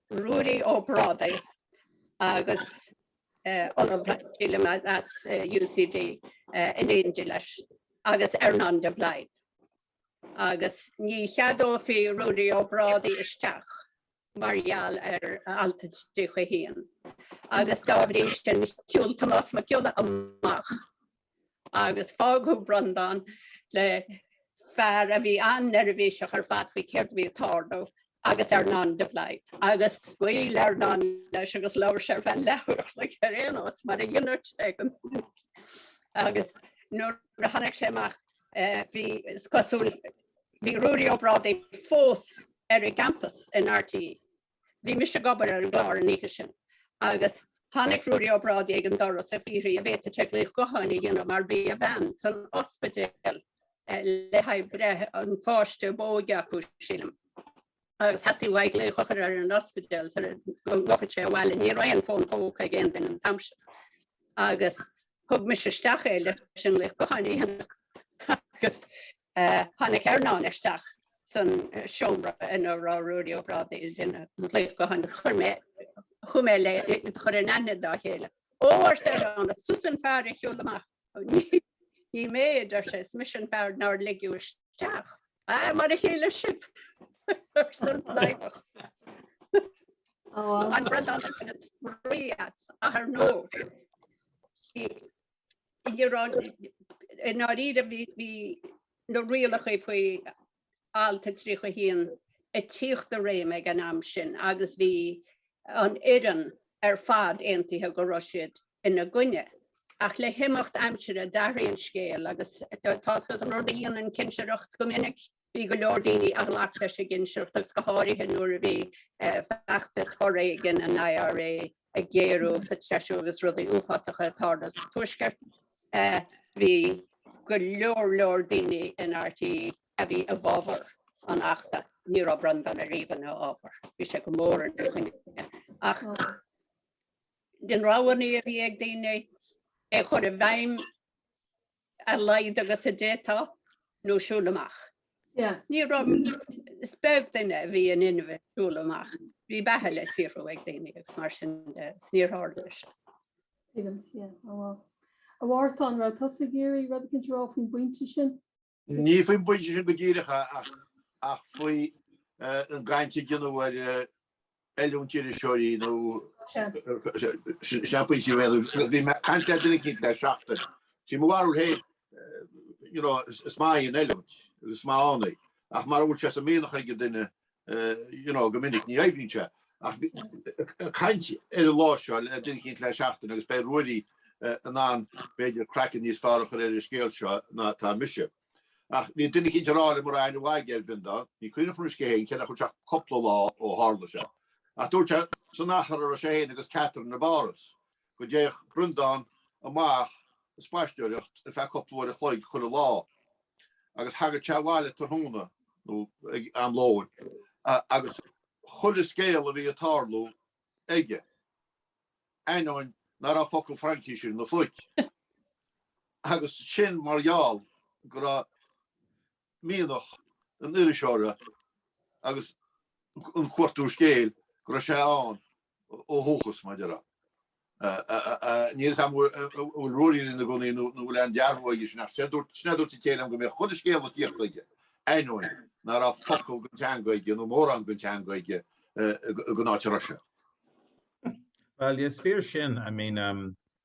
Ruairí Ó Brádaigh agus Ollamh Williams as UCD in éindí leis agus Earnán de Blaghd. Agus ní cheadófaí Ruairí Ó Brádaigh isteach mar gheall ar Alt a tríocha haon. Agus dá bhrí sin shiúil Tomás Mac Giolla amach. agus fágadh Breandán le fear a bhí an-neirbhíseach ar fad faoi céard a bhí ag tarlú agus Earnán de Blaghd, agus scaoil Earnán leis agus labhair sé ar feadh leathuair an chloig ar aon nós mar a dhéanadh sé go minic. Agus nuair a tháinig sé amach eh, bhí is cosúil bhí Ruairí Ó Brádaigh fós ar an gcampas in RTÉ. Bhí mise ag obair ar an gclár an oíche sin agus tháinig Ruairí Ó Brádaigh ag an doras ag fiafraí an bhféadfadh sé glaoch gutháin a dhéanamh mar bhí a bhean san ospidéal le haghaidh breith an pháiste ab óige acu, sílim. Agus theastaigh uaidh glaoch a chur ar an ospidéal go bhfillfeadh sé abhaile, ní raibh aon fón póca ag aon duine an t-am sin. Agus Thug mise isteach é leis an nglaoch gutháin a dhéanamh agus tháinig Earnán isteach san seomra ina raibh Ruairí Ó Brádaigh ag déanamh an ghlaoch gutháin agus chuir mé, chuaigh mé le chur in aithne dá chéile, Ó! arsa Earnán, is tusa an fear a shiúil amach. Ní mé, a deir sé, is mise an fear nár ligeadh isteach. Ah, mar a chéile sibh! arsa an Blaghdach. An rud a tharla ar ndóigh i ndáiríre bhí na rialacha faoi alt 31 ag tíocht i réim ag an am sin agus bhí an fhoireann ar fad aontaithe go raibh siad ina gcoinne. Ach le himeacht aimsire d'athraigh an scéal agus tá an rud a dhéanann cinsireacht go minic Bhí go leor daoine a ghlac leis an gcinsireacht agus go háirithe nuair a bhí feachtas foréigin an IRA ag géarú agus ag treisiú agus rudaí uafásacha ag tarlú sa Tuaisceart. Bhí go leor leor daoine in RTÉ a bhí i bhfábhar an Achta. Ní raibh Breandán ariamh ina fhábhar. Bhí sé go mór ina choinne. Ach de na roghanna a bhí ag daoine é a chur i bhfeidhm, a laghad agus a d'fhéadfá, nó siúl amach. Ní raibh, is beag duine a bhí in inmhe siúl amach, bhí beatha le saothrú ag daoine agus mar sin de, is níor tharla sé. Tuigim, yeah, oh wow. A Mhártain, raibh tusa ag iarraidh rud éicint a rá faoin bpointe sin? Ní faoin bpointe sin go díreach ach faoi an gcaint a deineadh ar Oiliúint iriseoirí nó sna pointí mhéadaí agus bhí mé ag caint le duine éicint le seachtain. Sí mo bharúil féin, you know, is maith í an oiliúint agus is maith ann í ach mara bhfuil sé sa mianach ag an duine, you know, go minic ní oibríonn sé. Ach ag caint ar an lá seo le duine éicint le seachtain agus beidh Ruairí in ann b'fhéidir craiceann níos fearr a chur ar an scéal seo ná atá mise. Ach bhí duine eicínt ag rá liom ba rath a mhaig air b'in do. Ní cuimhneach anois cé hé fhéin cé nach bhfuil sé ach cupla lá ó tharla seo. Ach dúirt sé san achar a raibh sé fhéin agus Catherine i bPáras, go dtéadh Breandán amach ag spaisteoireacht ar feadh cupla uair a chloig chuile lá, agus thagadh sé abhaile tráthnóna, nó ag am lóin, agus chuile scéal a bhí ag tarlú aige. ainneoin ná raibh focal Fraincise ina phluic. Agus sin mar gheall go raibh mianach an iriseora agus an chuartú scéal go raibh sé ann ó dhúchas, mar a déarfá. Níl fhios a'm an bhfuil Ruairí linn i gcónaí nó an bhfuil aon dearbhú aige sin ach sin é a dúirt a chéile liom go mbíodh chuile scéal ag tíocht aige ainneoin ná raibh focal den teanga aige nó mórán den teanga aige den áit a raibh sé. Bhuel, is fíor sin. I mean,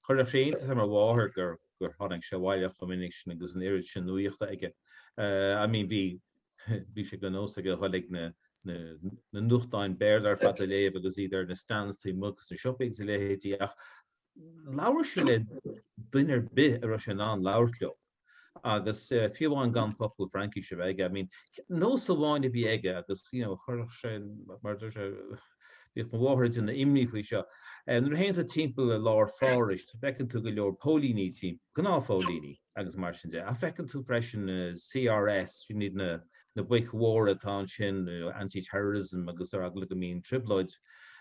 chuireadh sé iontas ar mo mháthair gur, gur tháinig sé abhaile chomh minic sin agus an oiread sin nuaíochta aige. I mean, bhí, bhí sé de nós aige dhul ag na, na, na nuachtáin Béarla ar fad a léamh agus iad ar na stands taobh amuigh dos na siopaí agus a leithéidí ach labhair sé le duine ar bith a raibh sé in ann labhairt leo. agus fiú amháin gan focal Fraincise a bheith aige. I mean, nós amháin a bhí aige agus, you know, chuirfeadh sé, mar a dúirt sé, bhíodh mo mháthair ag déanamh imní faoi seo, nuair a théann tú timpeall i lár Phárais, feiceann tú go leor póilíní timpeall, gnáthphóilíní agus mar sin de, ach feiceann tú freisin CRS, sin iad na boic mhóra atá ansin, anti-terrorism agus ar eagla go mbíonn trioblóid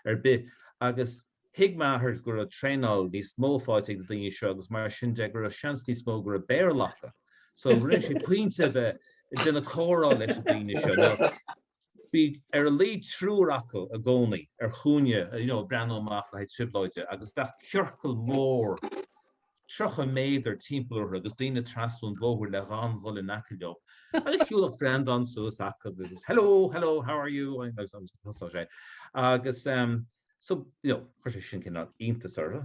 ar bith. Agus Thuig m'athair go raibh traenáil níos mó faighte ag na daoine seo agus mar sin de go raibh seans níos mó go raibh Béarla acu. So rinne sé pointe a bheith ag déanamh comhrá leis na daoine seo. Now bhí ar a laghad triúr acu i gcónaí ar chúinne you know, ag breathnú amach le haghaidh trioblóide agus bheadh ciorcal mór 30 méadar timpeall orthu agus daoine trasna an bhóthar le gan dhul in aice leo. Agus shiúladh Breandán suas acu agus hello, hello, how are you? agus agus thosódh sé. Agus em, So, you know, chuir sé sin cineál iontas orthu,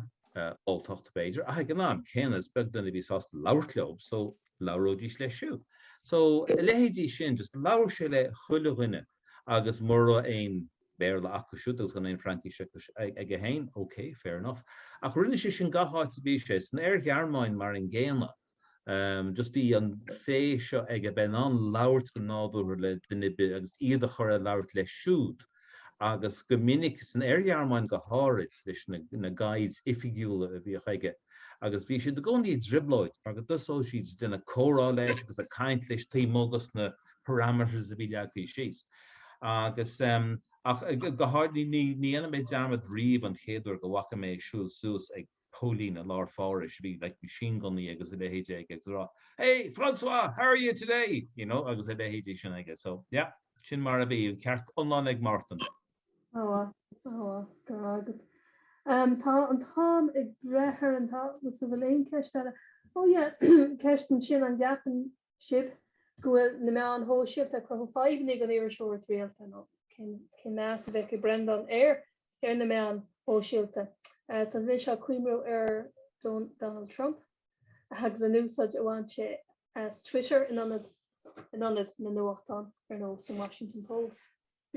alltacht b'fhéidir, ach ag an am céanna is beag duine a bhí sásta labhairt leo, so labhróidís leis siúd. So, a leithéidí sin, just labhair sé le chuile dhuine agus mura raibh aon Bhéarla acu siúd agus gan aon Fraincis aige féin, ok, fair enough. Ach rinne sé sin gach áit a bhí sé, san Oir-Ghearmáin mar an gcéanna, just bhí an féith seo aige, bheith in ann labhairt go nádúrtha le duine ar bith agus iad a chur ag labhairt leis siúd. Agus go minic, san Oir-Ghearmáin go háirid, leis na guides oifigiúla a bhíodh aige, agus bhí siad i gcónaí i dtrioblóid mar go dtosódh siad ag déanamh comhrá leis agus ag caint leis taobh amuigh dos na parameters a bhí leagtha síos. Agus ehm, ach go háirid ní dhéanfaidh mé dearmad riamh an chéad uair go bhfaca mé é ag siúl suas ag póilín i lár Phárais a bhí like machine gunnaí agus a leithéidí aige agus ag rá Hey Francois! How are you today? you know agus a leithéidí sin aige so yeah sin mar a bhí, an ceart iomlán ag Mártan. Go raibh maith agat. Umm tá an t-am ag breith orainn, tá fhios a'm. So bhfuil aon cheist eile? Oh yeah ceist ansin an gceapann sibh go bhfuil na meáin shóisialta ag cruthú fadhbanna ag an iriseoireacht rialta nó cén meas a bheadh ag Breandán ar ar na meáin shóisialta. Tá mise ag cuimhniú ar Donald Trump agus an úsáid a bhain sé as Twitter in ionad na nuachtáin ar nós an Washington Post.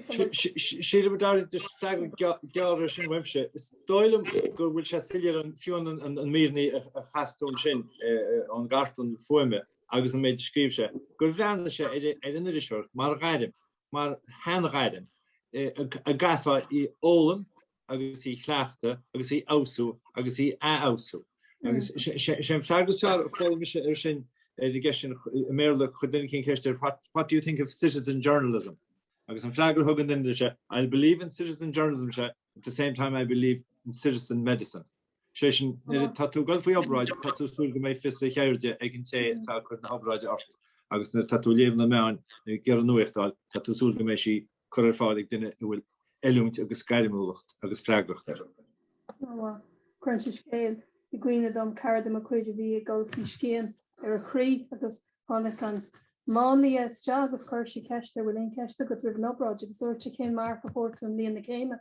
Sílim go dtarlaíonn de freagra gearr ar sin uaimse. Is dóigh liom go bhfuil sé soiléir ó fiú na míreanna a chas tú ansin ón gcartlann fuaime agus an méid a scríobh sé, gur bhreathnaigh sé ar an iriseoireacht mar ghairm, mar sheanghairm, a gcaithfeá a fhoghlaim agus í chleachtadh agus í fheabhsú agus í athfheabhsú. Agus sé an freagra is fearr a chuala mise air sin ar an gceist sin i mBéarla, chuir duine eicínt ceist air, what do you think of citizen journalism? Agus an freagra a thug an duine leis ea, I'll believe in citizen journalism sé at the same time I believe in citizen medicine. Sé sin má tá tú ag goil faoi obráid tá tú súil go mbeidh fios a cheirde ag an té atá ag cur na hobráide ort agus má tá tú ag léamh na meáin ag iarraidh nuacht a fháil tá tú súil go mbeidh sí curtha ar fáil ag duine a bhfuil oiliúint agus gairmiúlacht agus freagracht air. Cuireann sé scéal i gcuimhne dom, cara de mo chuid a bhí ag dul faoi scian ar a chroí agus tháinig an máinlia isteach agus chuir sé ceist air, bhfuil aon cheist agat roimh an obráid agus dúirt sé cén marc a fuair tú i mbliain na céime?